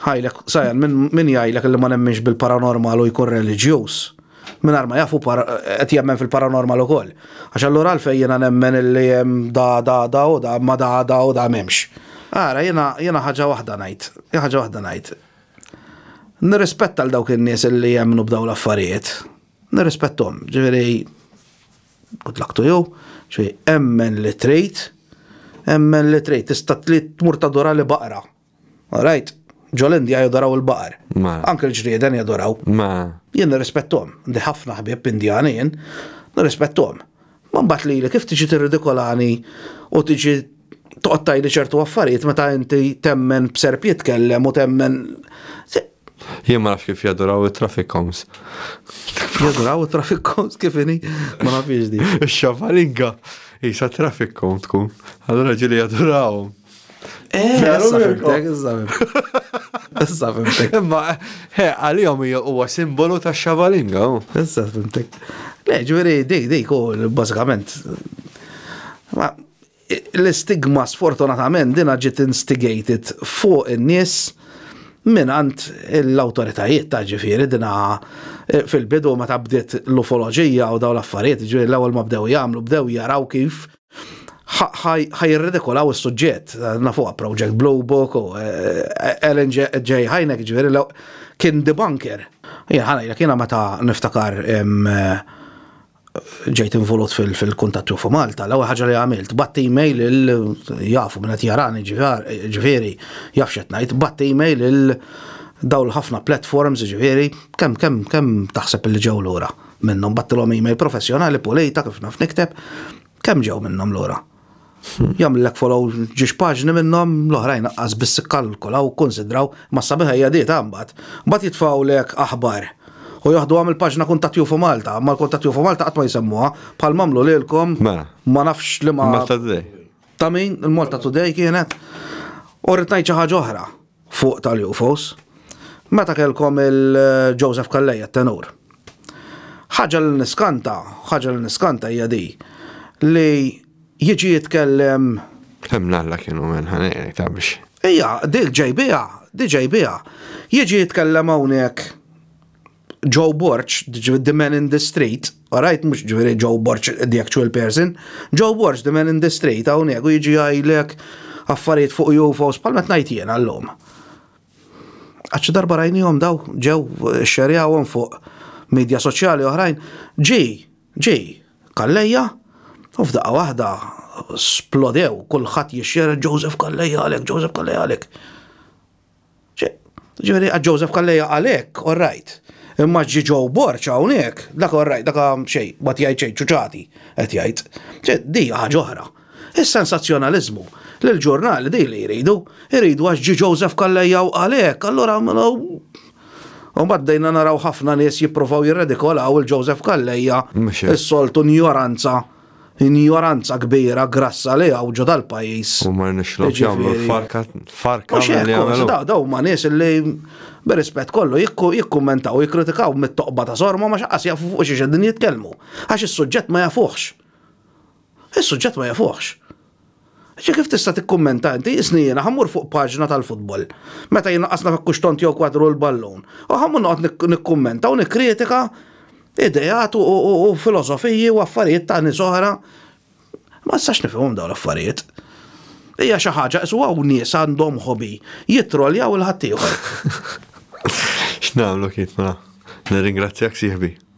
Ħajlek, sajan, min jgħidlek li ma nemminx bil-paranormal u jkun reliġjuż? Min ma jafu qed jemmen fil-paranormal ukoll. Għax allura għalfejn jiena nemmen li hemm da da da u da ma da da u da m'hemmx. Ara, jiena ħaġa waħda ngħid, ħaġa waħda ngħid. Nirrispetta l dawk in-nies li jemmnu b'dawn l-affarijiet. Nirrispettom, ġifieri. Good luck to you. Ċi, emmen li trid, emmen li trid, tista' trid tmur tadora li baqra. All right? Ġol-Indja jadoraw il-baqar. Ma. Anke l-ġrieden jadoraw. Ma. Jien nirrispettom, ndi ħafna ħbieb Indjani jien, nirrispettom. Ma mbagħad lili kif tiġi tirridikolani u tiġi toqgħod tajli ċertu affarijiet meta inti temmen b'serp jitkellem u temmen. Jien ma nafx kif jaduraw it-traffic cones. Jaduraw it-traffic cones kif ini? Ma nafx di. Xavalinga, jisa traffic cone tkun. Allora ġili jaduraw. Eh, Issa fimtek. Imma, he, għal-jom huwa simbolu ta' xavalinga. Issa fimtek. Le, ġveri, dik, dik, bazzikament. L-istigma sfortunatament dinha ġiet instigated fuq in-nies mingħand l-awtoritajiet ta' ġifieri dinha eh, fil-bidu meta bdiet l-ufoloġija u dawn l-affarijiet ġifieri l-ewwel ma bdew jagħmlu bdew jaraw kif ħajirridikolaw is-suġġett. Nafuha Project Blue Book u Ellen eh, eh, J. Hynek ġifieri kien debunker. Jien ħanajlek jiena meta niftakar ġejt involut fil-kuntatt fuq Malta, l-ewwel ħaġa li għamilt, batt email il jafu minn qed jarani ġifieri jaf x'qed ngħid, batt email il dawl ħafna platforms ġifieri kemm kemm kemm taħseb li ġew lura minnhom battilhom email professjonali pulita kif naf nikteb kemm ġew minnhom lura. Jagħmlilek follow ġiex paġni minnhom, l-oħrajn anqas biss ikkalkulaw u kkunsidraw, ma s-sabiħa hija di ta' mbagħad. Mbagħad jitfgħulek aħbar u joħduha mill-paġna Kuntatt Jufu Malta, imma l-Kuntatt Jufu Malta qatt ma jsemmuha, bħal m'għamlu lilkom ma nafx liema ta' min, il-Malta Today kienet. U rrid ngħid xi ħaġa oħra. fuq tal-UFOs, meta kellkom il-Joseph Calleja t-tenur. Ħaġa li niskanta, ħaġa li niskanta hija di li jiġi jitkellem Kemm l-Alla kienu minn ħanejrek ta' biex. Ija, dik ġejbiha, dik ġejbiha. Jiġi jitkellem hawnhekk Joe Borg, the man in the street, alright, mux ġviri Joe Borg, the actual person, Joe Borg, the man in the street, għaw negu jġi għajlek affarijiet fuq UFOs, palmet najt jena l-lum. Għax darba rajnijom daw, ġew eh, xerjawom fuq media soċjali oħrajn, ġi, ġi, kalleja, u f'daqqa wahda splodew, kullħat jixxer Joseph Kalleja għalek, Joseph Kalleja għalek. Ġifieri għad Joseph Kalleja għalhekk, all right. Imma ġi Joe Borċ hawnhekk, dak all right, dak xejn, ma tgħid xejn, ċuċati qed jgħid. Di ħaġa oħra. Is-sensazzjonaliżmu li l-ġurnali di li jridu, jridu għax ġi Joseph Kalleja u għalhekk, allura U baddejna naraw ħafna nies jippruvaw jirredikolaw il-Joseph Kalleja, is-soltu njoranza Injoranza kbira grassa li hawn ġo dal-pajjiż. U ma rnexxilhomx jagħmlu l-farka farka li jagħmlu. Daw huma nies li b'rispett kollu jikkummentaw jikkritikaw mit-toqba ta' sorma ma xaqqas jafu fuq xiex qegħdin jitkellmu. Għax is-suġġett ma jafuhx. Is-suġġett ma jafuhx. Ġi kif tista' tikkummenta inti, isni jiena ħa mmur fuq paġna tal-futbol, meta jnaqqasna f'hekk hux tont jew kwadru l-ballun, u ħa mmur noqgħod nikkummenta u nikkritika ideat u filosofiji u affarijiet ta' nies oħra? Ma nistax nifhimhom dawn l-affarijiet. Hija xi ħaġa qisu hawn nies għandhom hobby, jittroljaw il-ħaddieħor. X'nagħmlu Keith mela? Nirringrazzjak sieħbi.